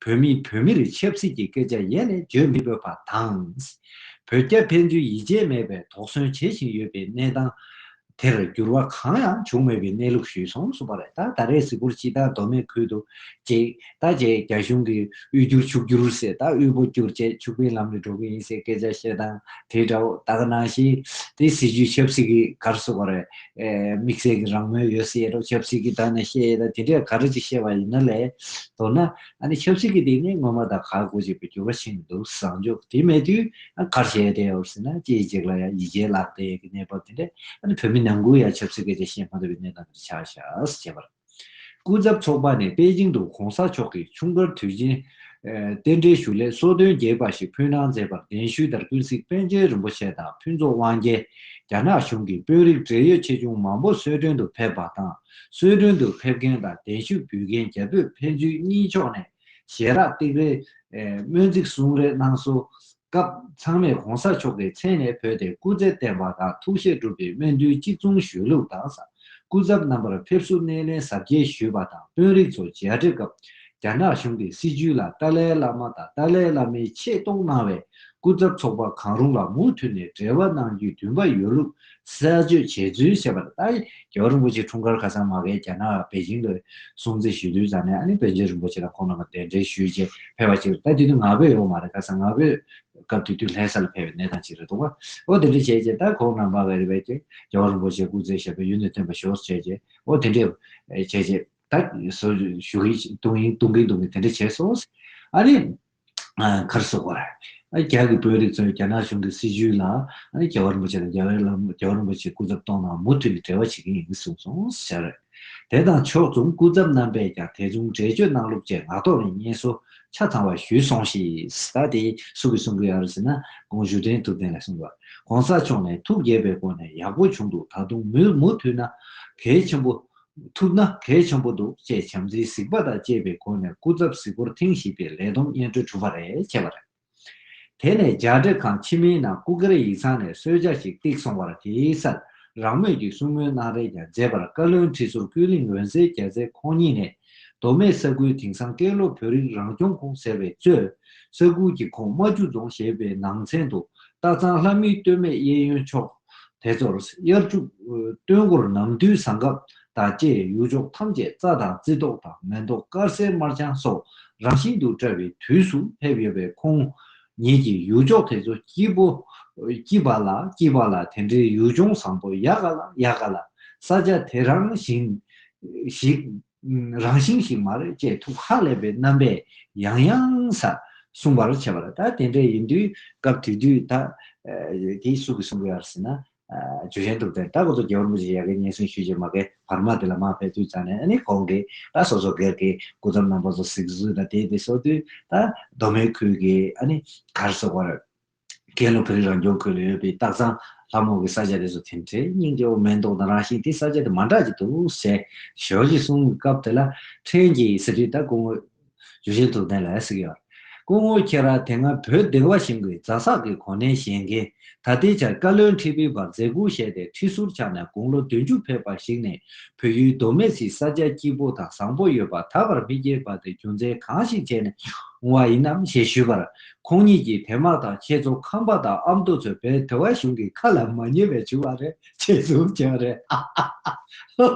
བོད་མིས་བོད་མིར་ཆབ་སྲིད་ཀྱི་སྐད་ཆ་ཡེ་ནས་བརྗོད་མི་ཕོད་པ་དང། བོད་རྒྱ་ཕན་ཚུན་ཡིད་ཆེས་མེད་པའི་དོགས་ཟོན་བྱེད་བཞིན་ཡོད་པའི་གནས་སྟངས་དེར་འགྱུར་བ་གང་ཡང་བྱུང་མེད་པའི་གནས་ལུགས་ཞུས་སོང་སུ་པ་རེད་ད་ད་རེས་གཟིགས་སྐོར་སྤྱི་བཏང་མདོ་སྨད་ཁུལ་དུ་བྱེད་ད་བྱས་རྒྱ་གཞུང་གིས་དབུལ་སྒྱུར་ཕྱུག་སྒྱུར་ཟེར་ད་དབུལ་པོ་སྒྱུར་བྱས་ཕྱུག་པའི་ལམ་ནས་འགྲོ་གི་ཡིན་ཟེར་སྐད་ཆ་བཤད་སྟངས་དེ་འདྲ་བོ་ད་ག་ནང་བཞིན་དེ་སྲིད་ཇུས་ཆབ་སྲིད་ཀྱི་གར་སུ་པ་རེད། དམིགས་བསལ་གྱི་རང་མོས་ཡོད་སྲིད་ལ་ཆབ་སྲིད་ཀྱི་དག་ནས་བཤད་ཡོད་ལ་དེ་འདྲས་ག་རེ་ཅིག་བཤད་པ་ཡིན་ན་ལས་མདོར་ན་ཨ་ནི་ཆབ་སྲིད་ཀྱི་སྟེང་ནས་སྔོན་མ་དང་གར་དགོས་ཅེས་པའི་འགྱུར་བ་ཕྱིན་ནས་འདུག་བཟང་ཕྱོགས་དེ་མེད་དུས་ཨ་གར་བྱས་བསྡད་ཡོད་སྲིད་ན་སྐྱེས་གཅིག་ལ་ཡང་ཡིད་ཆེས་ལག་བདེ་ཡོད་ཀྱི་གནས་བབ་དེ་འདྲས་ཨ་ནི་བོད་མི་ནང་ཁུལ་ཡང་ཆབ་སྲིད་སྐད་ཆ་བཤད་མ་ཐུབ་པའི་གནས་སྟངས་དེར་ཆགས་ཤག་ཅེས་པར། སྐུ་ཚབ་ཚོགས་པ་ནས་པེ་ཅིང་དུ་གོང་ས་མཆོག་གི་ཆུང་དཀར་དུས་ཆེན། རྟེན་འབྲེལ་ཞུ་སླད་གསོལ་སྟོན་རྒྱས་པ་ཞིག་ཕུལ་གནང་མཛད་པར་གདན་ཞུས་ལྟར་ཀུན་གཟིགས་པཎ་ཆེན་རིན་པོ་ཆེ་དང་ཕུན་ཚོགས་དབང་རྒྱལ། རྒྱ་ནག་གཞུང་གི་དཔོན་རིགས་བགྲེས་ཡོད་ཆེ་ཆུང་མང་པོ་གསོལ་སྟོན་དུ་ཕེབས་པ་དང་གསོལ་སྟོན་དུ་ཕེབས་མཁན་དང་གདན་ཞུ་འབུལ་མཁན་རྒྱ་བོད་ཕན་ཚུན་གཉིས་ཕྱོགས་ནས་ཞལ་རག་སྟེགས་རེ། སྨོན་ཚིག་གསུང་རེ་གནང་སོ། སྐབས་ཚང་མས་གོང་ས་མཆོག་གི་མཚན་ནས་བོས་ཏེ་སྐུ་ཚེ་བརྟན་པ་དང་ཐུགས་བཞེད་འགྲུབ་པའི་སྨོན་འདུན་གཅིག་མཚུངས་བཞུགས་ལུགས་དང་ས་སྐུ་ཚབ་རྣམ་པར་ཕེབས་བསུ་སྣེ་ལེན་ཟབ་རྒྱས་ཞུས་པ་དང་དཔོན་རིགས་ཚོ་མཇལ་འཕྲད་སྐབས་རྒྱ་ནག་གཞུང་གི་སྲིད་བྱུས་ལ་ཏཱ་ལའི་བླ་མ་དང་ཏཱ་ལའི་བླ་མའི་ཆེད་གཏོགས་གནང་བའི་སྐུ་ཚབ་ཚོགས་པ་གང་རུང་ལ་མུ་མཐུད་ནས་འབྲེལ་བ་གནང་རྒྱུའི་འདུན་པ་ཡོད་ལུགས་གསལ་བརྗོད་བྱས་ཚུལ་བཤད་པ་དང་ཏཱ་ཡི་རྒྱལ་བ་རིན་པོ་ཆེའི་འཁྲུངས་སྐར་ཁ་སང་མ་གྷལ་རྒྱ་ནག་པེ་ཅིང་དུ་སྲུང་བརྩི་ཞུས་དུས་རྫ་ནས་ཨ་ནེ་བྷན་ཇེ་རིན་པོ་ཆེ་དང་ཁོང་རྣམ་པ་གདན་འདྲེན་ཞུས་རྗེས་ཕེབས་པ་ཅིག་རེད་ད་དུས་ནི་ང་ཕོད་ཡོད་པ་མ་རེད་ཁ་སང་ང་ཕོད་སྐབས་དུས་དུས་ལྷའི་ས་ལ་ཕེབས་པའི་གནས་སྟངས་ཅིག་རེད་འདུག་པ་འོ་དེ་འདྲ་བྱས་རྗེས་ད་ཁོང་རྣམ་པ་མ་གྷལ་རྒྱལ་བ་རིན་པོ་ཆེ་སྐུ་ཚེ་ཞབས་པད་ཡུན་དུ་བརྟན་པ་ཞུ་བར་བྱས་རྗེས་འོ་དེ་འདྲ་བྱས་རྗེས་ད་ཞུ་གི་འདུག་གིན་འདུག་གིན་དེ་འདྲ་བྱས་སོང་ཨ་ནེ། ཁར་སོགས་པ། རྒྱ་གི་བོད་རིགས་ཚོས་རྒྱ་ནག་གཞུང་གི་སྲིད་བྱུས་ལ་རྒྱལ་བ་རིན་པོ་ཆེ་དང་རྒྱལ་བའི་ལམ་ལུགས་རྒྱལ་བ་རིན་པོ་ཆེའི་སྐུ་ཚབ་གཏོང་ན་མུ་མཐུད་ནས་འབྲེལ་བ་བྱེད་ཀྱི་ཡིན་གསུངས་སོང་ཟེར། དེ་དང་ཕྱོགས་མཚུངས་སྐུ་ཚབ་རྣམ་པས་ཀྱང་དེ་མཚུངས་འགྲེལ་བརྗོད་གནང་ལུགས་བཅས་ངག་ཐོག་ནས་སྙན་གསོ་ཆ་ཚང་བ་ཞུས་སོང་ཞེས་ད་དེ་སུ་གིས་གསུང་གི་ཡོད་རེད་ཟེར་ན་དགོངས་ཞུ་དྲན་ཐུབ་བསྟན་ལས་གསུངས་པ། གོང་ས་མཆོག་ནས་ཐུགས་དགྱེས་པའི་སྒོ་ནས་ཡག་པོ་བྱུང་འདུག་ད་དུང་མུ་མཐུད་ན་གལ་ཆེན་པོ་ཐུབ་ན་གལ་ཆེན་པོ་འདུག་ཅེས་བྱམས་བརྩེའི་གཟིགས་པ་དང་བཅས་པའི་སྒོ་ནས་སྐུ་ཚབ་གཟིགས་སྐོར་ཐེངས་བཞི་པའི་ལས་བསྡོམས་སྙན་སྒྲོན་གྲུབ་པ་རེད་བྱས་པ་རེད། དེ་ནས་རྒྱ་འདྲེ་ཁང་ཕྱི་མིའི་ནང་སྐུ་སྒེར་ཡིག་ཚང་ནས་གསོལ་ཇག་ཞིག་བཏེགས་སོང་བར་དེའི་སར་རང་མོས་ཀྱིས་གསུང་མོལ་གནང་རེས་ཀྱང་མཛད་པར་བཀའ་བློན་ཁྲི་ཟུར་ཀུན་གླིང་འོད་ཟེར་རྒྱལ་མཚན་ཁོང་ཉིད་ནས་མདོ་སྨད་ས་ཁུལ་དེང་སང་ཀན་ལྷོ་བོད་རིགས་རང་སྐྱོང་ཁུངས་ཟེར་བའི་གཙོས། ས་ཁུལ་གྱི་ཁོངས་རྨ་ཆུ་རྫོང་ཞེས་པའི་ནང་ཚན་དུ་སྟག་ཚང་ལྷ་མིའི་སྟོད་སྨད་གཡས་གཡོན་ཕྱོགས། དེ་ཚོར་དབྱར་ཆུ། སྟོན་འགོར་ནམ་དུས་བཟང་སྐབས་དང་བཅས་ཡུལ་ཕྱོགས་ཐམས་ཅད་རྩྭ་དང་རྩི་ཏོག་དང་མེ་ཏོག་དཀར་སེར་དམར་ལྗང་སོགས་རང་བཞིན་དུ་བཀྲ་བའི་དུས་སུ་སླེབས་ཡོད་པའི་ཁོང་ཉིད་ཀྱིས་ཡུལ་ཕྱོགས་དེ་ཚོ་སྐྱིད་པོ། སྐྱིད་པ་ལ་སྐྱིད་པ་ལ་དེ་འདྲའི་ཡུལ་ལྗོངས་བཟང་པོ་ཡག་ག་ལ་ཡག་ག་ལ། ས་ཆ་དེ་རང་བཞིན། ཞིག། རང་བཞིན་ཞིག་མ་རེད་ཅེས་ཐུགས་ཧ་ལས་པའི་རྣམ་པས་ཡང་ཡང་སྲ་གསུངས་པར་བྱས་པ་ལ་ད་དེ་འདྲ་ཡིན་དུས་སྐབས་དུས་དུས་ད་དེ་སུ་གི་གསུང་གི་ཨར་སེ་ན་ཇོ་གཞན་དུ་བསྟན་ད་གོ་ཐོ་རྒྱལ་བོར་མོ་ཇི་ཡག་གི་སྙན་སེང་ཞུས་རྗེས་མ་གེ་བར་མ་དེ་ལ་མ་ཕེབས་དུས་ཙང་ནས་ནི་གོང་གི་ད་སོ་སོ་སྒེར་གི་སྐུ་ཚབ་རྣམ་པ་ཚོ་གཟིགས་བཟོས་ད་དེ་དེ་སོ་དུས་ད་མདོ་སྨད་ཁུལ་གི་ཨ་ནི་གར་སོག་བར། དགེ་སློབ་བོན་རང་སྐྱོང་ཁུལ་ལ་ཡོད་པའི་སྟག་ཚང་ལྷ་མོ་གི་ས་ཆ་དེ་ཚོ་ཐེམ་ཁྲལ་རྙིང་གི་འོག་མེན་མདོག་དང་རང་བཞིན་དེ་ས་ཆ་དེ་མ་འདྲ་གི་འདུག་ཟེར། ཞོལ་གྱིས་གསུངས་པའི་སྐབས་དེ་ལ་ཕྲན་གྱིས་ཟེར་དུས་ད་སྐུ་ངོ། ཇུ་ཆེན་ཐུབ་བསྟན་ལ་ཟེར་གི་ཡོད། སྐུ་ངོ་ཁྱེད་རང་དེ་སྔ་བོད་སྡེ་བ་ཞིང་གི་རྫ་བསགས་ཀྱི་གོ་གནས་བཞེས་མཁན་ད་ལྟའི་ཆར་བཀའ་བློན་ཁྲི་པའི་བར་མཛད་སྒོ་བཞེས་ཏེ་ཁྲི་ཟུར་ཆགས་ནས་དགུང་ལོ་བདུན་ཅུ་ཕེབས་པ་ཞིག་ནས་བོད་ཡུལ་མདོ་སྨད་སའི་ས་ཆ་སྐྱིད་པོ་དང་བཟང་པོ་ཡོད་པ་ད་བར་མི་སྐྱེས་པ་དེ་རྒྱུ་མཚན་གང་ཞིག་བྱས་ནས་འོང་བ་ཡིན་ནམ་ཞེས་ཞུས་པར་ཁོང་གཉིས་ཀྱིས་དེ་མ་ཐག་ཁྱེད་ཚོ་ཁམས་པ་དང་ཨ་མདོ་ཚོས་བལ་དེ་བ་གཞུང་གི་ཁ་ལ་མ་ཉན་པའི་བྱུ་བ་རེད་ཅེས་གསུངས་ཀྱང་རེད་ཧ་ཧ་ཧ་ཧ་ཧོ་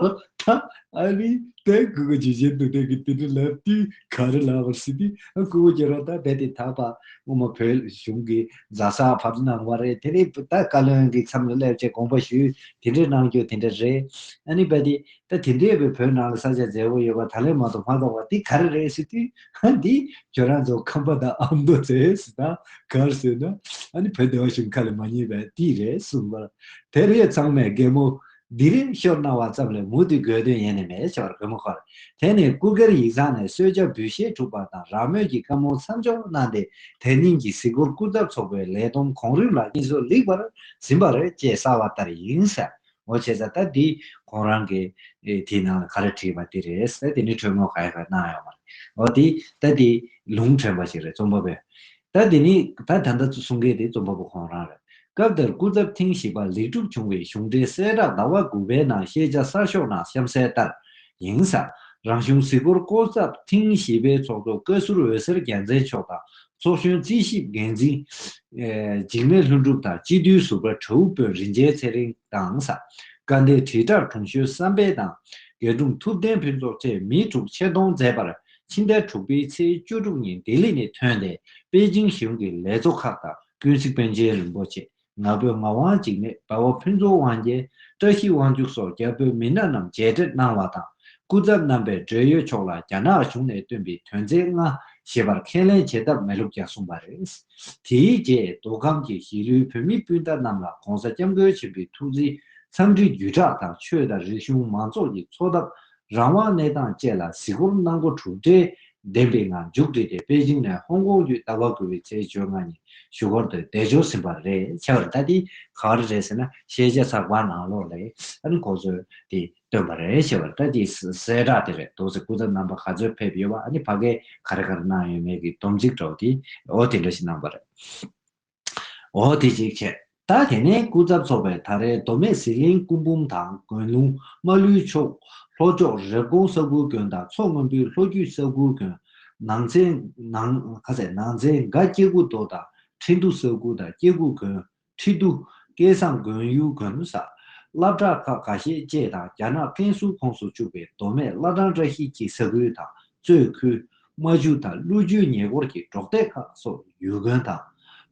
ད་ཨ་རི་དེ་སྐུ་གོ་རྗེས་གཞན་དུ་དེ་གི་དེ་འདྲི་ལབ་དུས་ག་རི་ལ་བར་སྲིད་དུས་སྐུ་གོ་རྗེས་རོ་ད་བལ་དེ་དག་པ་ངོ་མ་བལ་གཞུང་གི་རྫ་ས་བར་གནང་བ་རེད་དེ་རིང་ད་བཀའ་བློན་གི་མཚམས་ལ་སླེབས་ཆེད་དགོངས་པ་ཞུས་དེ་འདྲི་གནང་རྒྱུ་དེ་འདྲ་རེད་ཨ་ནི་བལ་དེ་ད་དེ་འདྲའི་བའི་བོད་ནང་ལ་ས་ཆ་མཛེས་བོ་ཡོད་པ་ད་ལན་མ་གཏོགས་མ་གཏོགས་པ་དེ་ག་རི་རེད་སྲིད་དུས། ཧཱ། འདི་ཁྱོད་རང་ཚོ་ཁམས་པ་དང་ཨ་མདོ་ཚོས་ཟེར་ན་གར་ཟེར་ན། ཨ་ནི་བོད་སྡེ་བ་ཞིག་མཁའ་ལས་མ་ཉེས་པའི་དུས་རེད་གསུངས་པར། དེར་ཡོད་ཚང་མས་རྒན་མོ་འདི་རེ་ཤོར་གནང་བ་ཙམ་ལས་མུ་མཐུད་དགོས་དོན་ཡེ་ནས་མེད་ཞོར་རི་མོ་ཁར་དེད་ནས་སྐུ་སྒེར་ཡིག་ཚང་ནས་གསོལ་ཇ་འབུལ་བཞེས་འཁྲུག་པ་དང་རང་མོས་ཀྱི་བཀའ་མོལ་མཚམས་འཇོག་གནང་སྟེ་དེ་ཉིན་གྱི་གཟིགས་སྐོར་སྐུ་ཚབ་ཚོགས་པའི་ལས་བསྡོམས་གོང་རིམ་ལ་སྙན་སོར་ལེགས་པར་ཟིན་པ་རེད་ཅེས་གསལ་བ་ལྟར་ཡིན། ངོ་ཆེ་ས་ད་འདི་ཁོང་རང་གི་དེའི་ནང་ལ་ག་རེ་བྲིས་པ་དེ་རེད་ད་དེ་ནི་དྲོད་མོ་ག་ཡེ་ག་གནང་ཡོང་བ་རེད་འོ་དེ་ད་དེ་ལུང་འདྲེན་པ་ཞིག་རེད་རྩོམ་པ་པོས་ད་དེ་ནི་ད་ད་ལྟ་གསུང་མཁན་དེ་རྩོམ་པ་པོ་ཁོང་རང་རེད་སྐབས་དེར་སྐུ་ཚབ་ཐེངས་བཞི་པ་ལེགས་གྲུབ་བྱུང་བའི་གཞུང་འབྲེལ་གསལ་བསྒྲགས་ཟླ་བ་དགུ་པའི་ནང་ཤེས་བྱ་གསར་ཤོག་ནང་གཤམ་གསལ་ལྟར། ཡིན་ས་རང་གཞུང་གཟིགས་སྐོར་སྐོར་ཚབ་ཐེངས་བཞི་པའི་ཚོགས་གཙོ་བཀའ་ཟུར་འོད་ཟེར་རྒྱལ་མཚན་མཆོག་དང་ཚོགས་གཞོན་རྩིས་ཞིབ་འགན་འཛིན། འཇིགས་མེད་ལྷུན་གྲུབ་དང་སྤྱི་འཐུས་ཟུར་པ་དྲ་བོ་དཔོན་རིན་ཆེན་ཚེ་རིང་དང་ས་དགའ་མདའི་དྲིལ་བསྒྲགས་དྲུང་གཞོན་བསམ་འཕེལ་དང་རྒྱལ་དྲུང་ཐུབ་བསྟན་ཕུན་ཚོགས་བཅས་མི་དྲུག་ཆེད་གཏོང་མཛད་པར་ཕྱི་ཟླ་དྲུག་པའི་ཚེས་བཅུ་དྲུག་ཉིན་ལྡི་ལི་ནས་ཐོན་ཏེ་པེ་ཅིང་གཞུང་གི་ལས་བཟོ་ཁག་དང་ཀུན་གཟིགས་དཔོན་ཆེན་རིན་པོ་ཆེ་ནག་པོའི་ངག་དབང་འཇིགས་མེད་དཔའ་བོ་ཕུན་ཚོགས་དབང་རྒྱལ་བཀྲ་ཤིས་དབང་ཕྱུག་སོགས་རྒྱ་བོད་མི་སྣ་རྣམས་མཇལ་འཕྲད་གནང་བ་དང་སྐུ་ཚབ་རྣམ་པས་འབྲེལ་ཡོད་ཕྱོགས་ལ་རྒྱ་ནག་གཞུང་ནས་བཏོན་པའི་དོན་ཚན་ལྔ་ཞེས་པར་ཁས་ལེན་བྱེད་ཐབས་མེད་ལུགས་ཀྱང་གསུངས་པ་རེད། དེའི་རྗེས་མདོ་ཁམས་ཀྱི་གཞིས་ལུས་བོད་མི་སྤུན་ཟླ་རྣམས་ལ ྋགོང་ས ྋསྐྱབས་མགོན་ཆེན་པོའི་ཐུགས་རྗེའི་འཚམས་འདྲི་བརྒྱུད་བསྒྲགས་དང་ཆོས་དང་རིག་གཞུང་མང་ཚོགས་ཀྱི་འཚོ་ཐབས་རང་དབང་གནས་སྟངས་བཅས་ལ་གཟིགས་སྐོར་གནང་སྒོ་གྲུབ་འབྲས་ལྡན་པའི་ངང་མཇུག་བསྒྲིལ་ཏེ་པེ་ཅིང་ནས་ཧོང་ཀོང་བརྒྱུད་ཟླ་བ་དགུ་བའི་ཚེས་བཅོ་ལྔ་ཉིན་བཞུགས་སྒར་དུ་བདེ་འབྱོར་ཟིན་པ་རེད། ཁྱད་པར་ད་ལྟའི་ག་རེ་རེད་ཟེར་ན་ཤེས་བྱ་ཚགས་པར་ནང་ལོགས་ལས་ཨན་གོ་ཚོས་དེ་བཏོན་པ་རེད་ཁྱད་པར་ད་ལྟའི་གསལ་བསྒྲགས་དེ་རེད་དོགས་ཟེར་སྐུ་ཚབ་རྣམ་པ་ག་ཚོད་ཕེབས་ཡོད་པ་ཨ་ནི་ཕ་སྐད་ག་རེ་ག་རེ་གནང་ཡོད་མེད་ཀྱི་སྡོམ་ཚིག་གྲོགས་དེའོ་དེ་འདྲ་ཞིག་གནང་པ་རེད། འོ་དེ་ཅིག་བྱས། ད་དེ་ནས་སྐུ་ཚབ་ཚོགས་པའི་དར་རས་མདོ་སྨད་ཟི་ལིང་སྐུ་འབུམ་དང་དགོན་ལུང་རྨ་ལུའི་མཆོག། ལྷོ་ཕྱོགས་རེབ་གོང་ས་ཁུལ་དགོན་དང་མཚོ་སྔོན་པོའི་ལྷོ་རྒྱུད་ས་ཁུལ་དགོན། ནང་ཚན། ནང། ཁ་ཚད། ནང་ཚན་འགའ་སྐྱེ་རྒུ་མདོ་དང་ཁྲི་འདུ་ས་ཁུལ་དང་སྐྱེ་རྒུ་དགོན། ཁྲི་འདུ། སྐལ་བཟང་དགོན་ཡུལ་དགོན་ས། བླ་བྲག་ཁག་ག་ཤེད་བཅས་དང་རྒྱ་ནག་ཀན་སུའུ་ཁོངས་སུ་བཅུག་པའི་མདོ་སྨད་བླ་བྲང་བཀྲ་ཤིས་ཀྱི་ས་ཁུལ་དང་གཙོས་ཁུལ། རྨ་ཆུ་དང་ཀླུ་ཆུའི་ཉེ་འཁོར་གྱི་འབྲོག་སྡེ་ཁག་སོགས་ཡུལ་དགོན་དང།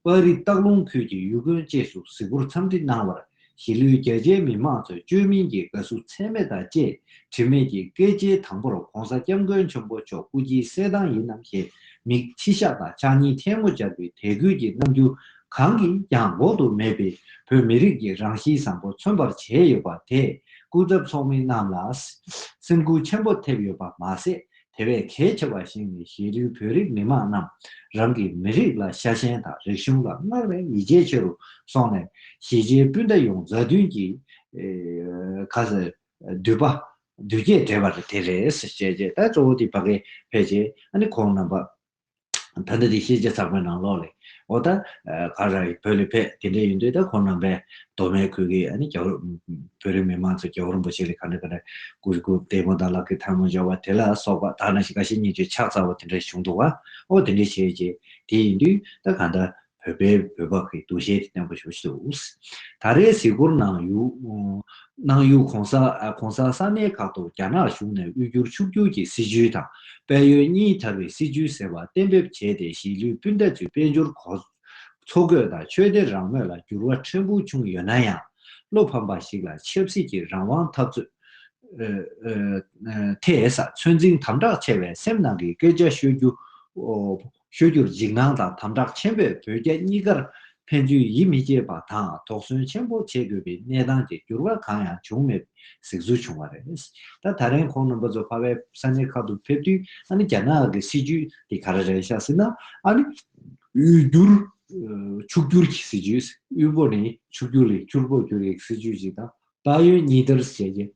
དཔའ་རིས་སྟག་ལུང་ཁུལ་གྱི་ཡུལ་དགོན་བཅས་སུ་གཟིགས་སྐོར་འཚམས་འདྲི་གནང་བར་གཞིས་ལུས་རྒྱ་ཆེའི་མི་དམངས་ཚོས་བཅོས་མིན་གྱི་དགའ་བསུ་ཚད་མེད་དང་བཅས་དྲི་མེད་ཀྱི་སྐད་ཆའི་དང་པོར ྋགོང་ས ྋསྐྱབས་མགོན་ཆེན་པོ་མཆོག་སྐུ་སྐྱིའི་གསལ་གདངས་ཡིན་ནམ་ཞེས་མིག་མཆི་ཞགས་དང་ཕྱག་གཉིས་ཐལ་མོ་སྦྱར་བའི་དད་གུས་ཀྱི་རྣམ་འགྱུར་གང་གིས་ཀྱང་འགོག་ཏུ་མེད་པའི་བོད་མི་རིགས་ཀྱི་རང་གཤིས་བཟང་པོ་མཚོན་པར་བྱས་ཡོད་པ་དེས་སྐུ་ཚབ་ཚོགས་མི་རྣམས་ལ་སེམས་འགུལ་ཆེན་པོ་ཐེབས་ཡོད་པ་མ་ཟད་དེ་བས་གལ་ཆེ་བ་ཞིག་ནི་གཞིས་ལུས་བོད་རིགས་མི་དམངས་རྣམས་རང་གི་མི་རིགས་ལ་ཤ་ཞེན་དང་རིག་གཞུང་ལ་སྔར་བས་ཡིད་ཆེས་ཆེ་རུ་སོང་ནས་གཞིས་བྱེས་སྤུན་ཟླ་ཡོངས་མཛའ་མཐུན་གྱིས། ཁ་ཟས། དུད་པ། དུད་རྒྱས་འབྲེལ་བ་དེ་རེད། ཅེས་བཤད་རྗེས་ད་གཙོ་བོ་དེ་ཕ་གས་ཕེབས་རྗེས་ཨ་ནེ་ཁོང་རྣམ་པ། ད་ནི་དེ་ཤེས་བྱ་ཚགས་པའི་ནང་ལོགས་ལས། ཨོ་ད། ག་ར་ཡིས་བོད་ལས་ཕེབས་དེ་འདྲས་ཡིན་དུས་ད་ཁོང་རྣམ་པས་མདོ་སྨད་ཁུལ་གྱི་ཨ་ནི་རྒྱ་བོད་བོད་རིགས་མི་མང་ཚོ་རྒྱལ་བོ་རིན་པོ་ཆེ་ལས་ག་འདྲ་ག་འདྲ་གུ་རུ་སྐུ་བདེ་མོ་དང་ལག་གི་ཐལ་མོ་འཇོག་པ་དེ་ལ་སོགས་པ་དག་ན་ཤི་ག་ཤི་གཉིས་ཀྱི་ཕྱག་ཚ་བོ་དེ་འདྲ་བྱུང་འདུག་བ་ཨོ་དེ་འདྲས་བྱས་རྗེས་དེ་ཡིན་དུས་ད་ག་འདྲ་བོད་པའི་བོད་པ་གི་འདུ་ཤེས་དེ་བརྟན་པོ་ཞུ་ཆེད་དུ། ད་རེའི་གཟིགས་སྐོར་ནང་གནང་ཡུལ་གོང་ས་གོང་ས་ས་གནས་ཁག་ཏུ་རྒྱ་ནག་གཞུང་ནས་དབུས་འགྱུར་ཕྱུག་འགྱུར་གྱི་སྲིད་ཇུས་དང་དཔལ་ཡོན་གཉིས་དར་བའི་སྲིད་ཇུས་ཟེར་བ་གཏན་འབེབས་བྱས་ཏེ་གཞིས་ལུས་སྤུན་ཟླ་ཚོའི་དཔལ་འབྱོར་གོ། འཚོ་གོས་དང་ཆོས་སྡེ་རང་མོས་ལ་འགྱུར་བ་ཕྲན་བུ་བྱུང་ཡོད་ན་ཡང། བློ་ཕམ་པ་ཞིག་ལ་ཆབ་སྲིད་ཀྱི་རང་དབང་འཐབ་རྩོད། ཐད། ཚོད་འཛིན་དམ་དྲག་ཆེ་བའི་སེམས་ནང་གི་སྐད་ཆ་ཤོད་རྒྱུ། ཤོད་རྒྱུར་འཇིགས་སྣང་དང་དམ་དྲག་ཆེན་པོས་བོད་རྒྱ་གཉིས་ཀར་ཕན་ཚུན་ཡིད་མི་ཆེས་པ་དང་དོགས་ཟོན་ཆེན་པོ་བྱེད་དགོས་པའི་གནས་སྟངས་ཀྱི་འགྱུར་བ་གང་ཡང་བྱུང་མེད་པའི་གཟིགས་ཚུལ་བྱུང་བ་རེད། ད་ད་རིང་ཁོང་རྣམ་པ་ཚོ་ཕ་བའི་ས་གནས་ཁག་ཏུ་ཕེབས་དུས་ཨ་ནི་རྒྱ་ནག་གི་སྲིད་བྱུས་དེ་ག་རེ་རེད་ཤག་ཟེར་ན་ཨ་ནི་དབུལ་སྒྱུར་ཕྱུག་སྒྱུར་གྱི་སྲིད་བྱུས་དབུལ་པོ་ནས་ཕྱུག་སྒྱུར་ལས་ཕྱུར་པོར་འགྱུར་ཡི་གི་སྲིད་བྱུས་ཤིག་དང་ད་ཡོད་གཉིས་ལྟར་བྱས་རྗེས་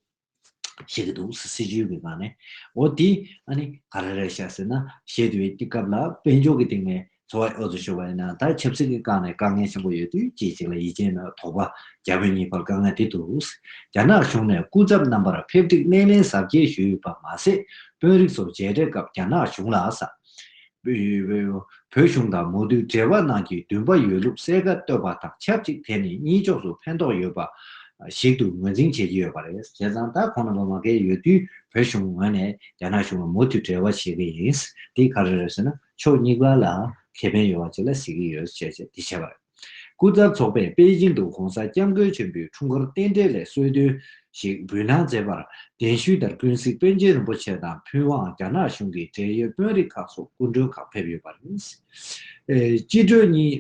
བཤད་ཀྱི་འདུག་སྲིད་ཇུས་ཀྱི་སྒང་ནས། འོ་དེ་ཨ་ནི་ག་རེ་རེད་བཤད་ཟེར་ན། བཤད་དུས་ཀྱི་སྐབས་ལ་དཔལ་འབྱོར་གྱི་སྟེང་ནས་འཚོ་བ་ཨེ་འོ་ཚོད་ཤོར་བ་ཡིན་ན་ད་ཆབ་སྲིད་ཀྱི་སྒང་ནས་དཀའ་ངལ་ཆེན་པོ་ཡོད་དུས་ཅིག་ཅིག་ལ་ཡིད་ཆེས་ན་དོགས་པ་རྒྱ་བོད་གཉིས་བར་དཀའ་ངལ་དེ་འདུག། རྒྱ་ནག་གཞུང་ནས་སྐུ་ཚབ་རྣམ་པར་ཕེབས་སྒྲིག་སྣེ་ལེན་གཟབ་རྒྱས་ཞུས་ཡོད་པ་མ་ཟད་དཔོན་རིགས་ཚོ་མཇལ་འཕྲད་སྐབས་རྒྱ་ནག་གཞུང་ལ་ས་བོད་གཞུང་དང་མོ་རྡུལ་འབྲེལ་བ་ནང་གི་འདུན་པ་ཡོད་ལུགས་གསལ་ཁ་བཏོད་པ་དང་ཆབས་ཅིག་དེ་ནི་གཉིས་ཕྱོགས་སུ་ཕན་ཐོགས་ཡོད་པ་ཞིག་ཏུ་ངོས་འཛིན་བྱེད་ཀྱི་ཡོད་པ་རེད་བྱས་ཙང་ད་གོང་ནོ་བ་མ་བཀལ་ཡོད་དུས་བོད་གཞུང་ངོས་ནས་རྒྱ་ནག་གཞུང་ལ་མོ་རྡུལ་འབྲེལ་བ་བྱེད་ཀྱི་ཡིན་དེ་ག་རེ་རེད་ཟེར་ན་ཕྱོགས་གཉིས་ཀ་ལ་ཁེ་ཕན་ཡོད་པ་བཅས་ལ་གཟིགས་ཀྱི་ཡོད་ཅེས་བྱས་པ་རེད། སྐུ་ཚབ་ཚོགས་པས་པེ་ཅིང་དུ ྋགོང་ས ྋསྐྱབས་མགོན་ཆེན་པོའི་འཁྲུངས་སྐར་རྟེན་འབྲེལ་ལས་གསོལ་སྟོན་ཞིག་འབུལ་གནང་མཛད་པར་གདན་ཞུས་ལྟར་ཀུན་གཟིགས་པཎ་ཆེན་རིན་པོ་ཆེ་དང་ཕུན་དབང་རྒྱ་ནག་གཞུང་གི་འབྲེལ་ཡོད་དཔོན་རིགས་ཁག་སོགས་སྐུ་མགྲོན་ཁག་ཕེབས་ཡོད་པ་རེད། སྤྱི་གྲོས་གཉིས།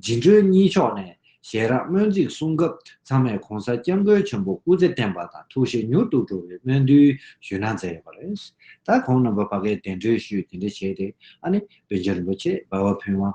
སྦྱིན་གྲོས་གཉིས་ཕྱོགས་ནས་ཞལ་རགས་སྨོན་ཚིག་གསུང་སྐབས་ཚང་མས ྋགོང་ས ྋསྐྱབས་མགོན་ཆེན་པོ་སྐུ་ཚེ་བརྟན་པ་དང་ཐུགས་བཞེད་མྱུར་དུ་འགྲོ་བའི་སྨོན་འདུན་ཞུས་གནང་མཛད་ཡོད་པ་རེད། ད་གོང་རྣམ་པ་བ་ཀའི་གདན་གྲོས་ཞུས་དེ་འདྲ་བྱས་ཏེ་ཨ་ནེ་པཎ་ཆེན་རིན་པོ་ཆེ་འབའ་བ་ཕུན་དབང་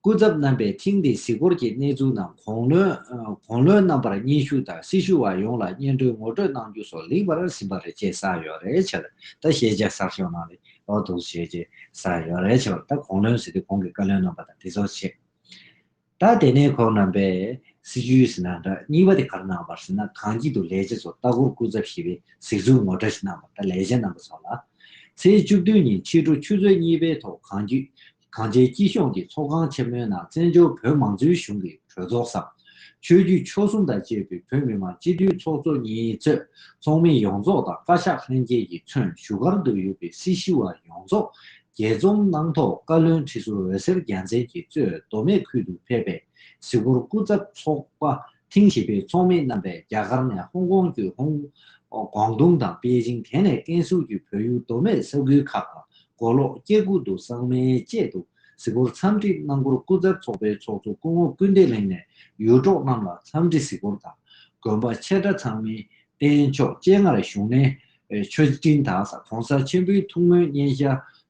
སྐུ་ཚབ་རྣམ་པས་ཐེངས་འདིའི་གཟིགས་སྐོར་གྱི་གནས་ཚུལ་རྣམས་གོང་ལོའིགོང་ལོའི་རྣམ་པར་སྙན་ཞུ་དང་སྲི་ཞུ་བ་ཡོངས་ལ་སྙན་སྒྲོན་ངོ་སྤྲོད་གནང་རྒྱུ་སོགས་ལེགས་པར་ཟིན་པ་རེད་ཅེས་གསལ་ཡོད་རེད་ཆེར་ད་ཤེས་བྱ་གསར་ཤོག་ནང་ལས་ཨོ་འདུག་བྱས་རྗེས་གསལ་ཡོད་རེད་ཆེར་ད་གོང་ལོའི་ཟིན་ཏེ་གོང་གི་བཀའ་བློན་རྣམ་པ་དང་དེ་ཚོར་ཆེད་ད་དེ་ནས་ཁོང་རྣམ་པས་སྲི་ཞུའི་ཟིན་ན་འདྲ་གཉིས་པ་དེ་གར་གནང་བར་ཟིན་ན་གངས་སྐྱིད་དུ་ལས་བྱེད་ཚོ་ལྟ་སྐོར་སྐུ་ཚབ་ཞེས་པའི་གཟིགས་ཚུལ་ངོ་སྤྲོད་ཞིག་གནང་བར་ད་ལས་བྱེད་རྣམ་པ་ཚོ་ལ། ཚེས་བཅུ་བདུན་ཉིན་ཕྱི་དྲོ་ཆུ་ཚོད་གཉིས་པའི་ཐོག་གངས་སྐྱིད་གངས་ཅན་སྐྱིད་གཤོངས་ཀྱི་ཚོགས་ཁང་ཆེན་མོའི་ནང་བཙན་བྱོལ་བོད་མང་གཙོའི་གཞུང་གི་གྲོས་ཚོགས་སམ། ཆོས་བརྒྱུད་ཆོལ་གསུམ་དང་བཅས་པའི་བོད་མི་མང་སྤྱི་འཐུས་ཚོགས་གཙོ་གཉིས་གཙོས་ཚོགས་མི་ཡོངས་རྫོགས་དང་བཀའ་ཤག་ལྷན་རྒྱས་ཀྱིས་མཚོན་བཞུགས་སྒར་དུ་ཡོད་པའི་སྲིད་ཞི་བ་ཡོངས་རྫོགས་རྒྱས་རྩོམ་གནང་ཐོག་བཀའ་བློན་ཁྲི་ཟུར་འོད་ཟེར་རྒྱལ་མཚན་གྱིས་གཙོས་མདོ་སྨད་ཁུལ་དུ་ཕེབས་པའི་གཟིགས་སྐོར་སྐུ་ཚབ་ཚོགས་པ་ཐེངས་བཞི་པའི་ཚོགས་མི་རྣམ་པས་རྒྱ་གར་ནས་ཧོང་ཀོང་བརྒྱུད་ཧོང་ཀོང་ཏུང་དང་པེ་ཅིང་དེ་ནས་ཀན་སུའུ་བརྒྱུད་བོད་ཡུལ་མདོ་སྨད་ས་ཁུལ་ཁག་དང་མགོ་ལོག་སྐྱེ་རྒུ་དུ་སངས་མའི་བཅས་དུ་གཟིགས་སྐོར་འཚམས་འདྲི་གནང་སྐོར་སྐུ་ཚབ་ཚོགས་པའི་ཚོགས་གཙོ་སྐུ་ངོ་སྐུལ་འདེད་གླིང་ནས་ཡུལ་གྲོགས་རྣམས་ལ་འཚམས་འདྲི་གཟིགས་སྐོར་དང་དགོན་པ་ཆེ་ཕྲ་ཚང་མིའི་རྟེན་མཆོག་སྤྱན་སྔར་བཞུགས་གནས་མཆོད་སྤྲིན་དང་ས་གོང་ས་ཆེན་པོའི་ཐུགས་སྨོན་བརྙན་ཤ་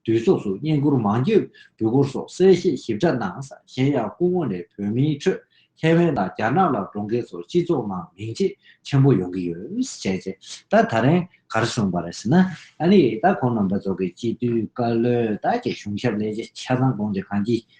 དུས་གསོགས་སུ་བསྙེན་བཀུར་མང་རྒྱུད་འབུལ་སྐོར་སོགས་གསལ་བཤད་ཞིབ་ཕྲ་གནང། གཞན་ཡང་སྐུ་ངོ་ནས་བོད་མིའི་ཁྲོད་ཐའེ་ཝན་དང་རྒྱ་ནག་ལ་འགྲོ་མཁན་ཚོར་སྤྱི་ཚོགས་ནང་མིང་ཆེ་ཆེན་པོ་ཡོང་གི་ཡོད། བྱས་རྗེས་ད་ད་རན་གར་བྱུང་བ་རེད་ཟེར་ན། ཨ་ནི་ད་ཁོང་རྣམ་པ་ཚོ་གི་སྤྱི་འཐུས་བཀའ་བློན་དག་གི་གཞུང་ཞབས་ལས་བྱེད་ཆ་ཚང་གང་ཅི་གང་ཅི་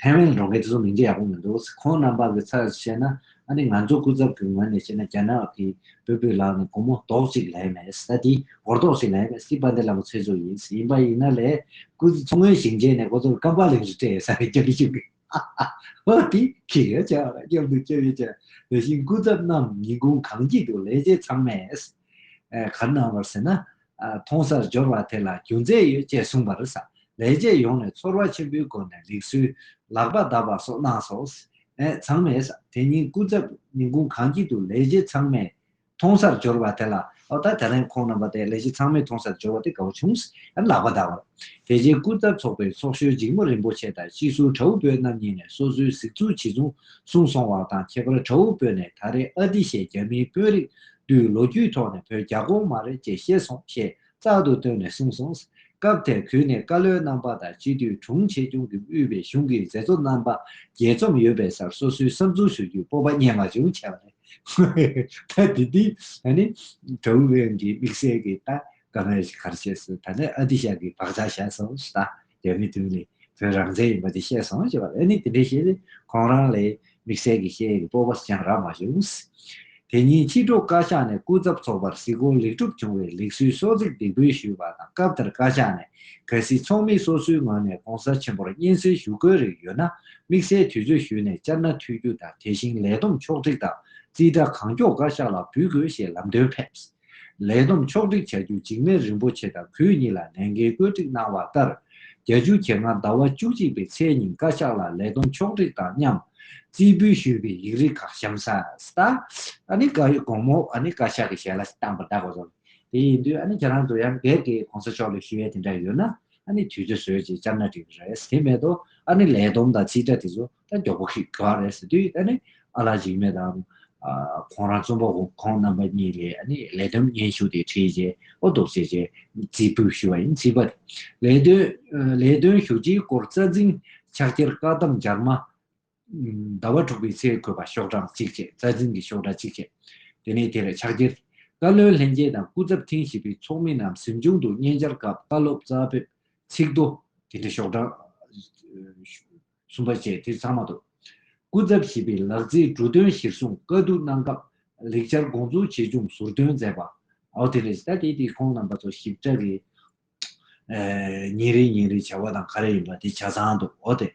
ཐའེ་ཝན་གྲོང་ཁྱེར་དེ་ཚོ་མིང་ཆ་ཡག་པོ་མི་འདུག་ཁོང་རྣམ་པ་གི་ཚབ་བྱས་ན་ཨ་ནི་ང་ཚོ་སྐུ་ཚབ་ཀྱི་ངོས་ནས་བཤད་ན་རྒྱ་ནག་གི་བུ་བུ་ལགས་ནི་བུ་མོ་རྡོག་གཅིག་ལས་མེད་ས་དེ་གོ་རྡོག་ཞིག་ལས་མེད་སྲིད་པ་འདི་ལ་མོ་ཚོད་ཚོད་ཡིན་ཡིན་པ་ཡིན་ན་ལས་སྐུ་མཚོ་སྔོན་ཞིང་ཆེན་ནས་ཁོ་ཚོར་སྐམ་པགས་ལེབ་ཞིག་སྤྲད་ཡོད་ས་རེད་སྐྱབས་བཅོལ་ཧཧཧཧ་ཧོ་དེ་ཁྱི་རེད་བྱས་པ་ལ་སྐྱབས་འདུག་སྐྱབས་ཡོད་བྱས་དེ་བཞིན་སྐུ་ཚབ་རྣམས་ཉིན་གུང་གངས་སྐྱིད་དུ་ལས་བྱེད་ཚང་མས། གར་སྣང་བར་ཟེར་ན། མཐོང་སར་སྦྱོར་བ་དེ་ལ་རྒྱུ་མཚན་ཡོད་ཅེས་གསུངས་པར། ལས་བྱས་ཡོངས་ནས་ཚོར་བ་ཆེན་པོའི་སྒོ་ནས་ལེགས་སོའི། ལག་པ་བརྡབ་པ་སོགས་སྣང་སོ། ཚང་མས། དེ་ཉིན་སྐུ་ཚབ་ཉིན་གུང་གངས་སྐྱིད་དུ་ལས་བྱེད་ཚང་མས། མཐོང་སར་སྦྱོར་བ་དེ་ལ། ཨོ་ད་དེ་རིང་ཁོང་རྣམ་པ་དེ་ལས་བྱེད་ཚང་མས་མཐོང་སར་སྦྱོར་བ་དེ་ག་བུ་བྱུང། ལག་པ་བརྡབ་པར། དེ་རྗེས་སྐུ་ཚབ་ཚོགས་པའི་ཚོགས་གཞོན་འཇིགས་མོ་རིན་པོ་ཆེ་དང་སྤྱི་ཟུར་དྲ་འུ་བོད་རྣམ་གཉིས་ནས་སོ་སོའི་གཟིགས་ཚུལ་ཇི་བྱུང་གསུངས་སོང་བ་དང་ཁྱད་པར་དྲ་འུ་བོད་ནས་ད་རེས་ཨ་ཏི་ཞེས་རྒྱ་མིའི་དཔོན་རིགས་དུས་ལོ་རྒྱུས་ཐོག་ནས་བོད་རྒྱ་གོང་མ་རེད་ཅེས་ཤེས་སོང་ཞེས་རྩག་ཏུ་བཏོན་ནས་གསུངས་སོང། སྐབས་དེར་གུས་ནས་བཀའ་བློན་རྣམ་པ་དང་སྤྱི་འཐུས་དྲུང་ཆེ་ཆུང་གི་དབུས་པའི་གཞུང་གི་མཛད་གཙོ་རྣམ་པ་རྒྱས་འཛོམས་ཡོད་པའི་སར་སོ་སོའི་བསམ་ཚུལ་ཞུ་རྒྱུའི་སྤོབས་པ་རྙེད་མ་བྱུང་བྱས་པ་རེད། ད་དེ་དུས་ནི་དྲུང་བློན་གྱི་དམིགས་བསལ་གྱི་ད་ག་མེར་གར་བྱས་སུ་ད་ནི་ཨ་ཏི་ཤག་གིས་བག་ཆགས་བཞག་སོང་ཞེས་ད་རྒྱ་མི་བདུན་ལས་བོད་རང་བཙན་ཡིན་པ་དེ་བཤད་སོང་ཞེས་པ་ལ་ནི་དེ་འདྲའི་ཤེས་ཏེ་ཁོང་རང་ལས་དམིགས་བསལ་གྱི་ཤེས་ཡོན་གྱི་སྤོབས་པ་སུ་ཀྱང་རག་མ་བྱུང། དེ་ཉིན་ཕྱི་དྲོ་བཀའ་ཤག་ནས་སྐུ་ཚབ་ཚོགས་པར་གཟིགས་སྐོར་ལེགས་གྲུབ་བྱུང་བའི་ལེགས་གསུལ་སོགས་ཚིག་འདེབས་སྐུལ་ཞུས་པ་དང་སྐབས་དེར་བཀའ་ཤག་ནས་གལ་སྲིད་ཚོགས་མི་སོ་སོའི་ངོས་ནས་གོང་ས་ཆེན་པོར་སྙན་གསེང་ཞུ་དགོས་རིགས་ཡོད་ན་དམིགས་བསལ་དུས་ཚོད་ཞུས་ནས་བཅར་ན་འཐུས་རྒྱུ་དང་དེ་བཞིན་ལས་བསྡོམས་ཕྱོགས་བསྒྲིགས་དང་རྩིས་ཁྲ་གང་མགྱོགས་བཀའ་ཤག་ལ་འབུལ་དགོས་ཞེས་ལམ་སྟོན་ཕེབས། ལས་བསྡོམས་ཕྱོགས་བསྒྲིགས་བྱ་རྒྱུ་འཇིགས་མེད་རིན་པོ་ཆེ་དང་གུས་གཉིས་ལ་ལས་འགན་བཀོད་སྒྲིག་གནང་བ་ལྟར། བརྒྱ་ཅུ་གྱེས་སྔ་ཟླ་བ་བཅུ་གཅིག་པའི་ཚེས་ཉིན་བཀའ་ཤག་ལ་ལས་བསྡོམས་ཕྱོགས་བསྒྲིགས་དང་མཉམ། རྩིས་འབུལ་ཞུས་པའི་ཡིག་རིགས་ཁག་གཤམ་གསལ། ཨ་ནི་བཀའ་ཡིག་གོང་མོ་ཨ་ནི་བཀའ་ཤག་གི་ཞལ་ལ་བཏང་པ་དག་རེད། དེ་ཡིན་དུས་ཨ་ནི་ཁྱེད་རང་ཚོ་ཡང་གལ་ཏེ་གོང་ས་མཆོག་ལ་ཞུ་ཡས་དེ་འདྲ་ཡོད་ན་ཨ་ནི་དུས་ཚོད་བཟོས་རྗེས་བཅར་ན་འགྲིག་རེད། དེ་མེད་དུ་ཨ་ནི་ལས་བསྡོམས་དང་རྩིས་ཁྲ་དེ་ཚོ་ད་མགྱོགས་པོ་ཞིག་ག་རེད་ཟེར་དུས་ད་ནི་ཨ་ལགས་འཇིགས་མེད་དང། ཁོང་རང་རྩོམ་པ་བོ་ཁོང་རྣམ་པ་གཉིས་ལས་ལས་བསྡོམས་སྙན་ཞུ་དེ་བྲིས་རྗེས་ཨོ་རྡོ་བྱས་རྗེས་རྩིས་འབུལ་ཞུས་པ་ཡིན་རྩིས་པ་དེ་ལས་དོན་ལས་དོན་ཞུ་རྒྱུའི་སྐོར་རྩ་འཛིན་ཕྱག་འཁྱེར་བཀའ་གདམས་རྒྱར་མ། ཟླ་བ་དྲུག་པའི་ཚེ་འཁོད་པ་ཤོག་གྲངས་གཅིག་བཅས་རྩ་འཛིན་གྱི་ཤོག་གྲངས་གཅིག་བཅས་དེ་ནས་དེར་ཕྱག་འཁྱེར། བཀའ་བློན་ལྷན་རྒྱས་དང་སྐུ་ཚབ་ཐེངས་བཞི་པའི་ཚོགས་མི་རྣམས་གཟིམ་ཆུང་དུ་སྙན་སྦྱར་སྐབས་བཀའ་སློབ་རྩ་བོད་ཚིག་མདོ་དེ་འདྲ་ཤོག་གྲངས། གསུམ་པ་བཅས་དེ་ཚང་མ་ཐོབ། སྐུ་ཚབ་བཞི་པའི་ལག་རྩིས་འབྲུ་དོན་གཞིར་བཟུང་བཀའ་བསྡུར་གནང་སྐབས་ལེགས་སྦྱར་དགོངས་རྫོགས་ཆེ་ཆུང་ཟུར་འདོན་མཛད་པ། ཨའོ་དེ་རེད། ད་དེ་དེ་ཁོང་རྣམ་པ་ཚོ་ཞིབ་ཕྲ་རེད། ཉིན་རེ་ཉིན་རེ་བྱ་བ་དང་ག་རེ་ཡིན་པ་དེ་བྱ་ཚང་འདུག་ཨོ་དེ།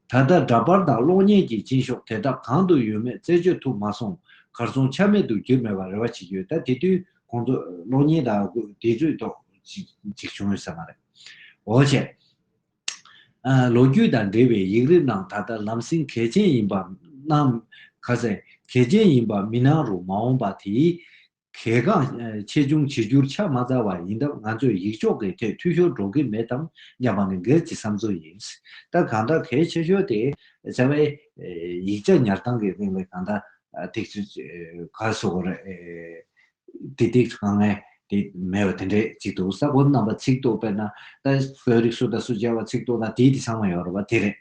ད་ལྟ་འདྲ་པར་དང་གློག་བརྙན་གྱི་སྤྱིན་ཤོག་དེ་དག་གང་དུ་ཡོད་མེད་རྩད་གཅོད་ཐུབ་མ་སོང། གར་སོང་ཆ་མེད་དུ་གྱུར་མེད་པར་རེ་བ་བྱེད་ཀྱི་ཡོད་ད་དེ་དུས་ཁོང་ཚོ་གློག་བརྙན་དང་དེ་ཚོའི་ཐོག་ཅིག་བྱུང་ཡོད་ས་མ་རེད། ཨོ་བྱས། ལོ་རྒྱུས་དང་འབྲེལ་བའི་ཡིག་རིགས་ནང་ད་ལྟ་ལམ་སེང་གལ་ཆེན་ཡིན་པ་སྣང། གལ་ཆེན་ཡིན་པ་མི་སྣང་རུང་མ་འོངས་པ་དེའི་གལ་འགངས་ཆེ་ཆུང་བྱེད་རྒྱུར་ཆ་མ་རྩ་བ་ཡིན་སྟབས་ང་ཚོས་ཡིག་ཕྱོགས་ཀྱི་ཐད་འཐུས་ཤོར་འགྲོ་གི་མེད་དམ་སྙམ་པ་ནི་སྒེར་གྱི་བསམ་ཚུལ་ཡིན། ད་གང་ལྟར་གལ་ཆེ་ཤོས་དེ་རྩ་བའི་ཡིག་ཆ་ཉར་སྟངས་ཀྱི་སྟེང་ལས་གང་ལྟར་ཐིག་གསོ་དགོས་རེད། དེ་དེ་ག་ངས་དེ་མེད་པ་དེ་འདྲས་ཅིག་འདུག་ས་གོ་རྣམ་པ་ཚིག་ཐོ་པེ་ན་ད་བོད་རིགས་སུ་དང་སུ་མཇལ་བ་ཚིག་ཐོ་ན་དེའི་དེ་ཚང་མ་ཡོང་རོགས་པ་དེ་རེད།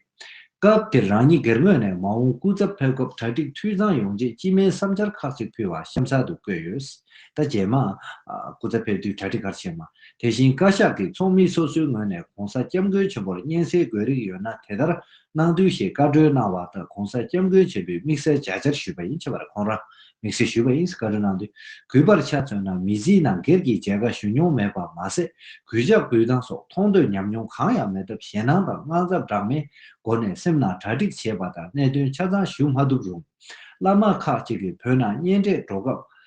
སྐབས་དེར་རང་ཉིད་སྒེར་ངོས་ནས་མ་འོངས་སྐུ་ཚབ་ཕེབས་སྐབས་གྲ་སྒྲིག་འཐུས་ཚང་ཡོང་ཆེད་སྤྱི་སྨན་བསམ་འཆར་ཁག་ཅིག་ཕུལ་བ་གཤམ་གསལ་དུ་བཀོད་ཡོད། ད་རྗེས་མ། སྐུ་ཚབ་ཕེབས་དུས་གྲ་སྒྲིག་གར་བྱེད་མ། དེ་བཞིན་བཀའ་ཤག་གིས་ཚོགས་མི་སོ་སོའི་ངོས་ནས་གོང་ས་སྐྱབས་མགོན་ཆེན་པོར་སྙན་སེང་དགོས་རིགས་ཡོད་ན་དེ་ལྟར་གནང་དུས་ཞེས་བཀའ་འཁྲོལ་གནང་བ་ལྟར་གོང་ས་སྐྱབས་མགོན་ཆེན་པོས་དམིགས་བསལ་མཇལ་བཅར་ཞུས་པ་ཡིན་ཆེ་བར་ཁོང་རང་དམིགས་བསལ་ཞུས་པ་ཨིན་སྐ་རི་ནང་དུ་གུས་པར་ཆ་མཚོན་ན་མི་གཟིགས་ན་སྒེར་གྱི་མཇལ་ཁ་ཞུ་མྱོང་མེད་པར་མ་ཟད་གུས་ཕྱག་འབུལ་སྟངས་སོགས་མཐོང་ཐོས་ཉམས་མྱོང་གང་ཡང་མེད་སྟབས་ཞེད་སྣང་དང་དངངས་འཚབ་འདྲ་མིན་སྒོ་ནས་སེམས་ནང་གྲ་སྒྲིག་བྱས་པ་དང་གནད་དོན་ཆ་ཚང་ཞུ་མ་ཐུབ་རུང། བླ་མ་ཁག་ཅིག་གིས་བོད་ནང་གཉེན་འཕྲད་འགྲོ་སྐབས།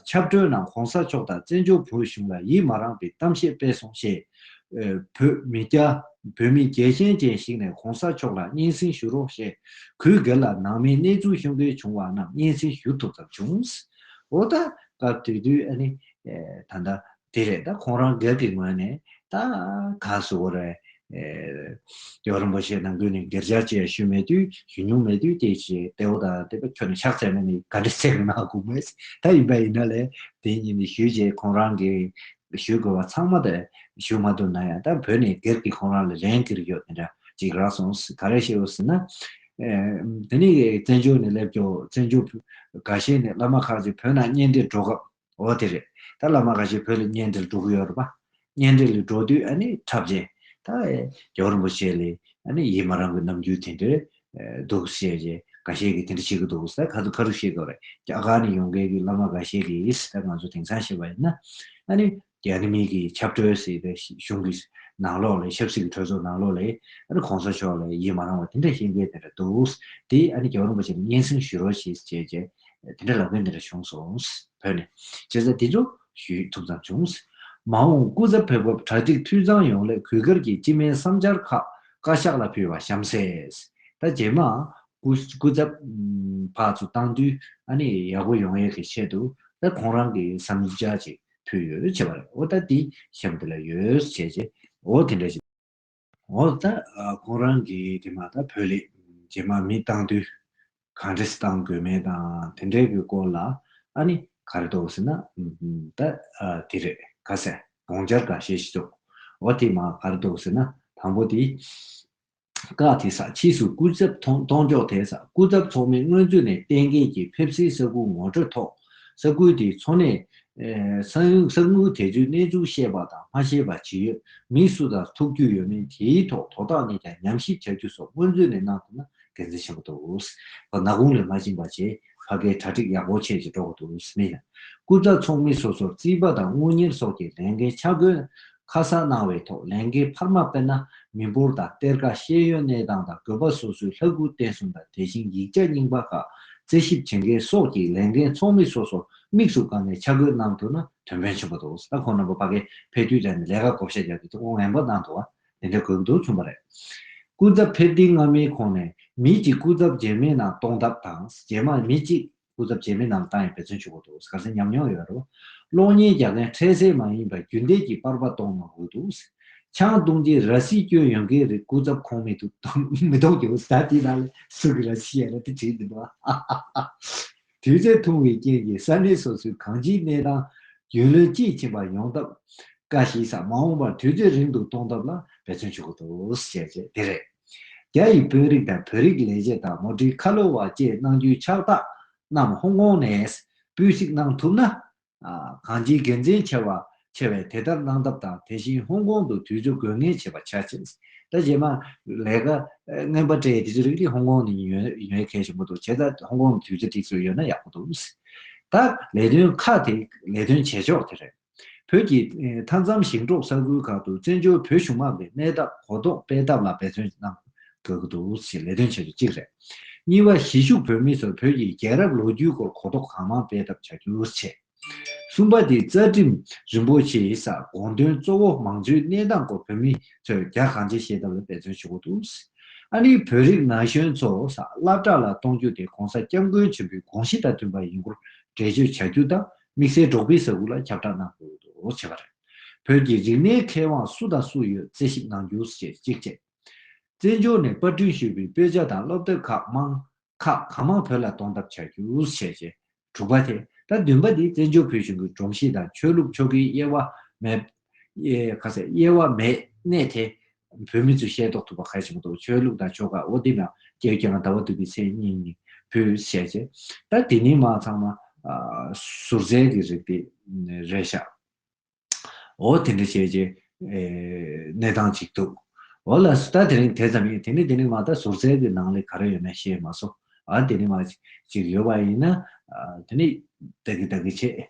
ཆབ་གྲོལ་ནང་གོང་ས་མཆོག་དང་བཙན་བྱོལ་བོད་གཞུང་ལ་ཡིད་མ་རངས་པའི་གཏམ་བཤད་སྤེལ་སོང་ཞེས་བོད་མི་སྐྱ་བོད་མི་རྒྱལ་ཞེན་ཅན་ཞིག་ནས་གོང་ས་མཆོག་ལ་སྙན་སེང་ཞུ་རོགས་ཞེས་གུས་སྒེར་ལ་ནང་མི་གནས་ཚུལ་ཤོང་གལ་བྱུང་བ་རྣམས་སྙན་སེང་ཞུ་ཐུབ་ཙམ་བྱུང། འོ་ད་སྐབས་དུས་དུས་ཨ་ནི། ད་ལྟ་དེ་རེད་ད་ཁོང་རང་སྒེར་གྱི་ངོས་ནས་ད་ག་སུ་བོ་རེད། ཡོག་རིན་པོ་ཆེ་ནང་ཁུལ་ནས་སྒེར་སྦྱར་ཅེས་ཞུས་མེད་དུས་ཞུ་མྱོང་མེད་དུས་དེ་ཞེས་དེ་འོ་ད་དེ་པ་ཁྱོད་ནས་ཕྱག་འཚལ་མེད་ནི་ག་འདྲའི་ཚེགས་གནང་དགོས་མེད། ད་ཡིན་པ་ཡིན་ན་ལས་དེ་གཉིས་ནས་ཞུས་རྗེས་ཁོང་རང་གིས་ཞུ་དགོས་བ་ཚང་མ་ད་ཞུ་མ་ཐུབ་ན་ཡང་ད་བོད་ནས་སྒེར་གྱི་ཁོང་རང་ལ་ལན་ཀིར་ཡོད་དེ་འདྲ་ཅིག་རག་སོང་ག་རེ་བཤད་འོས་ཟེར་ན། དེ་ནས་བཙན་བྱོལ་ནས་སླེབས་ཀྱོ་བཙན་བྱོལ་བོད་ག་ཤེད་ནས་བླ་མ་ཁག་ཅིག་བོད་ནང་གཉེན་འབྲེལ་འགྲོ་སྐབས་འོ་དེ་རེད་ད་བླ་མ་ག་ཤེད་བོད་ལ་གཉེན་འབྲེལ་འགྲོ་གི་ཡོད་རེད་པ། གཉེན་འབྲེལ་ལ་འགྲོ་དུས་ཨ་ནི་འཁྲབ་ཅན་ད་རྒྱ་རིན་པོ་ཆེ་ལས་ཨ་ནི་ཡིད་མ་རངས་པའི་རྣམ་འགྱུར་དེ་འདྲས་འདུག་བཤད་རྗེས་འགའ་ཤས་ཀྱིས་དེ་འདྲ་བྱེད་ཀྱི་འདུག་ཟེར་ཁ་ཐུག་བཤད་དགོས་རེད་རྒྱ་གར་ནས་ཡོང་མཁན་གྱི་བླ་མ་འགའ་ཤས་ཀྱིས་ད་ང་ཚོ་དེང་སང་བཤད་པ་ཡིན་ན་ད་ནི་རྒྱ་ནི་མིག་གིས་ཆབ་གྲོལ་སྲིད་པའི་གཞུང་གི་ནང་ལོགས་ལས་ཆབ་སྲིད་ཀྱི་གྲོས་ཚོགས་ནང་ལོགས་ལས་ཨ་ནི་གོང་ས་མཆོག་ལ་ཡིད་མ་རང་བ་དེ་འདྲ་བཤད་མཁན་དེ་འདྲ་འདུག་དེ་ཨ་ནི་རྒྱ་རོང་པ་ཅིག་ལ་སྙན་སེང་ཞུ་རོགས་བྱེད་ཅེས་བྱས་རྗེས་དེ་འདྲ་ལབ་མཁན་དེ་འདྲ་བྱུང་སོང་བོད་ནས་བྱས་ཙང་དེ་ཚོ་ཞུས་ཐུབ་ཙམ་བྱུང། མ་འོངས་སྐུ་ཚབ་ཕེབས་སྐབས་གྲ་སྒྲིག་འཐུས་ཚང་ཡོང་སླད་གུས་དཀར་གྱིས་སྤྱི་སྨན་བསམ་འཆར་ཁག་བཀའ་ཤག་ལ་ཕུལ་བ་གཤམ་གསལ། ད་རྗེས་མ། སྐུ་ཚབ། ཕག་ཚོ་བཏང་དུས་ཨ་ནི་ཡག་པོ་ཡོང་ཡས་ཀྱི་ཆེད་དུ་ད་ཁོང་རང་གི་བསམ་འཆར་ཅིག་ཕུལ་ཡོད་བྱས་པ་རེད་འོ་ད་འདི་གཤམ་དེ་ལ་ཡོད་བྱས་རྗེས་འོ་དེ་འདྲ་ཞིག། འོ་ད་ཁོང་རང་གིས་དེ་མ་ཐག་བོད་ལས་རྗེས་མ་མི་བཏང་དུས་གང་འདྲས་བཏང་དགོས་མེད་དང་དེ་འདྲས་ཀྱི་སྐོར་ལ་ཨ་ནི་ག་རེ་འདོགས་ཟེར་ན་ད་དེ་རེད་ག་ཟས་བོང་སྦྱར་ག་ཤེས་ཤི་ཐུབ་འོ་དེ་མ་ག་རེ་འདོགས་ཟེར་ན་དང་པོ་དེ་ཀ་དེ་ས་ཕྱིས་སུ་སྐུ་ཚབ་གཏོང་མགྱོགས་དེ་ས་སྐུ་ཚབ་ཚོགས་མི་སྔོན་ཚུད་ནས་གཏན་འཁེལ་གྱིས་ཕེབས་བསུའི་ས་ཁུང་ངོ་སྤྲོད་ཐོག་ས་ཁུལ་དེའི་འཚོ་གནས། ས་ཁུལ་དེ་ཚོའི་གནས་ཚུལ་ཤེས་པ་དང་མ་ཤེས་པ་ཇི་ཡོད། མི་སུ་དང་ཐུག་རྒྱུ་ཡོད་མེད་དེའི་ཐོག་དོ་བདག་ནས་ཀྱང་ཉམས་ཞིབ་བྱ་རྒྱུ་སོགས་སྔོན་ཚུད་ནས་གནང་ཐུབ་ན་དགེ་མཚན་ཆེན་པོ་འདུག་ཁོ་ནག་དགུང་ལས་མ་བྱིན་པ་ཆེ་ཕ་གའི་གྲ་སྒྲིག་ཡག་པོ་བྱས་ཅེས་སྒྲོག་གོ་འདུག་མིན། སྐུ་ཚ་ཚོགས་མི་སོ་སོར་རྩིས་པ་དང་དངུལ་གཉེར་སོགས་ཀྱི་ལས་འགན་ཆ་བགོས་ཁ་གསལ་གནང་བའི་ཐོག་ལས་འགན་འཕར་མ་དཔེར་ན་མི་འབོར་དང་གཏེར་ཁ་ཤེས་ཡོན་གནས་སྟངས་དང་བཀོད་པ་སོ་སོའི་ལྷ་སྐུ་རྟེན་གསུམ་དང་དེ་བཞིན་ཡིག་ཆ་རྙིང་པ་ཁག་རྩད་ཞིབ་བྱེད་མཁན་སོགས་ཀྱི་ལས་འགན་ཚོགས་མི་སོ་སོར་དམིགས་སུ་བཀར་ནས་ཆ་བགོས་གནང་ཐུབ་ན་དོན་ཕན་ཆེན་པོ་འདུག་ས་ཁོངས་རྣམ་པ་པ་ཀའི་ཕེབས་དུས་དྲན་ནས་ལས་ཀ་བགོ་བཤའ་རྒྱག་རྒྱུའི་ཐུགས་དགོངས་ངན་པ་གནང་འདུག་བ་དེ་འདྲའི་དགོས་འདུན་མཚོན་པ་རེད། སྐུ་ཚབ་ཕེབས་ཐེངས་སྔ་མའི་ཁོངས་ནས་མི་གཅིག་སྐུ་ཚབ་རྗེས་མའི་ནང་གཏོང་ཐབས་དང་རྗེས་མ་མི་གཅིག་སྐུ་ཚབ་རྗེས་མི་རྣམས་ཏང་ཡོན་འབད་བརྩོན་ཆུ་བོ་འདུག་ག་ཚད་ཉམས་མྱོང་ཡོད་རུང། གློག་བརྙན་རྒྱག་མཁན་འཕྲལ་སེལ་མ་ཡིན་པར་རྒྱུན་གཏན་གྱི་པར་པ་གཏོང་མ་དགོས་འདུག། ཆང་བཏུང་རྗེས་ར་བཟི་སྐྱོན་ཡོང་མཁན་རིགས་སྐུ་ཚབ་ཁོངས་མི་འདུག་མི་གཏོང་རྒྱུ། ད་དེའི་ནང་ལས་སུ་གི་ར་བཟི་ཡ་རབས་དེ་བྲིས་འདུག་བ། དུས་ཚོད་ཐུང་བའི་རྐྱེན་གྱིས་ས་གནས་སོ་སོའི་གང་ཅིའི་གནས་སྟངས་རྒྱུས་ལོན་དཔྱིས་ཕྱིན་པ་ཡོང་སྟབས། བཀའ་ཤིས་སམ་མ་འོངས་པར་དུས་ཚོད་རིང་དུ་གཏོང་ཐབས་ལ་འབད་བརྩོན་ཆུ་བོ་འདུག་བཤད་རྗེས་དེ་རེད། རྒྱ་ཡི་དཔོན་རིགས་དང་བོད་རིགས་ལས་བྱེད་དང་མུ་འབྲེལ་ཁ་ལོ་བ་བཅས་གནང་རྒྱུའི་ཕྱག་རྟགས་རྣམས་ཧོང་ཀོང་ནས་སྤུས་གཅིག་གནང་ཐུབ་ན། གང་ཅིའི་དགེ་མཚན་ཆེ་བ་ཆེ་བས་དེ་ལྟར་གནང་ཐབས་དང་དེ་བཞིན་ཧོང་ཀོང་དུ་དུས་ཚོད་དགོས་ངེས་བྱེད་པ་བྱ། ད་རྗེས་མ་ལས་ཀ་རྔན་པ་སྤྲད་དུས་ཚོད་རིགས་དེ་ཧོང་ཀོང་ནས་ཉོས་མཁན་ཞིག་མོ་འདུག་བྱས་ཙང་ཧོང་ཀོང་ནས་དུས་ཚོད་དེ་ཚོད་ཡོད་ན་ཡག་པོ་འདུག། ད་ལས་དོན་ཁག་དེ་ལས་དོན་བྱེད་ཕྱོགས་དེ་རེད། བོད་ཀྱི་མཐའ་མཚམས་ཞིང་འབྲོག་ས་ཁུལ་ཁག་ཏུ་བཙན་བྱོལ་བོད་གཞུང་མང་པའི་གནས་སྟངས་གོ་རྟོགས་སྤེལ་ཐབས་ལ་འབད་བརྩོན་གནང་དགོས་ཀྱི་འདུག་ཅེས་ལས་དོན་བྱེད་པ་གཅིག་རེད། གཉིས་པ། གཞིས་བཞུགས་བོད་མི་ཚོར་བོད་ཀྱི་རྒྱལ་རབས་ལོ་རྒྱུས་སྐོར་གོ་རྟོགས་གང་མང་སྤེལ་ཐབས་བྱ་རྒྱུར་བྱས། གསུམ་པ། འདི་རྩ་ཁྲིམས་རིན་པོ་ཆེའི་ས་དགོངས་དོན་གཙོ་བོ་མང་གཙོའི་གནས་སྟངས་སྐོར་བོད་མི་ཚོས་རྒྱ་གང་ཆེ་ཤེས་ཐབས་ལ་འབད་བརྩོན་ཞུ་དགོས་འདུག་ཨ་ནི་བོད་རིགས་ན་གཞོན་ཚོ་ས་བླ་བྲག་ལ་གཏོང་རྒྱུ་དེ་གོང་ས་སྐྱབས་མགོན་ཆེན་པོའི་དགོངས་གཞི་དང་མཐུན་པ་ཡིན་སྐོར་འགྲེལ་བརྗོད་བྱ་རྒྱུ་དང་དམིགས་བསལ་འབྲོག་པའི་ས་ཁུལ་ལ་ཁྱབ་བསྒྲགས་གནང་དགོས་འདུག་བྱས་པ་རེད། བོད་ཀྱི་རིག་གནས་མཁས་དབང་སུ་དང་སུ་ཡོད་རྩད་ཞིབ་གནང་རྒྱུ་ཞེས་གཅིག་བཅས། བཙན་བྱོལ་ནས་པར་སྐྲུན་ཞུས་པའི་དཔེ་ཆ་དང་སློབ་དེབ་ཁག་མང་ཁག་གང་མང་བོད་ལ་གཏོང་ཐབས་བྱ་རྒྱུ་བྱས་རྗེས་དྲུག་པ་དེ་ད་བདུན་པ་འདི་བཙན་བྱོལ་བོད་གཞུང་གི་སྒྲོམ་གཞི་དང་ཆོས་ལུགས་ཆོ་གའི་དབྱེ་བ་མེད་ག་ཚད་དབྱེ་བ་མེད་གནས་དེ། བོད་མི་ཚོས་ཤེས་རྟོགས་ཐུབ་པ་གལ་ཆེན་པོ་འདུག་ཆོས་ལུགས་དང་ཆོལ་ཁ་ཨོ་དེ་ན་རྒྱལ་རྒྱལ་ན་ཟླ་བ་དུས་ཀྱི་མཚན་སྙིང་ནི་བོད་ཞལ་ཆེ། ད་དེ་ནི་མ་ཚང་མ་ཟུར་རྩལ་གྱི་རིགས་དེ་རེད་ཤག་ཨོ་དེ་འདྲ་བྱས་རྗེས་གནས་སྟངས་གཅིག་འདུག་ཨོ་ལ་སུ་ད་དེ་རིང་དེ་ཙམ་ཡིན་དེ་ནི་དེ་ནི་མ་ད་ཟུར་རྩལ་གྱི་ནང་ལས་ག་རེ་ཡོད་ན་ཤེས་མ་སོ་ཨ་དེ་ནི་མ་ཅིག་ཡོད་པ་ཡིན་ན་དེ་ནི་བདག་གི་བདག་གི་བྱེད།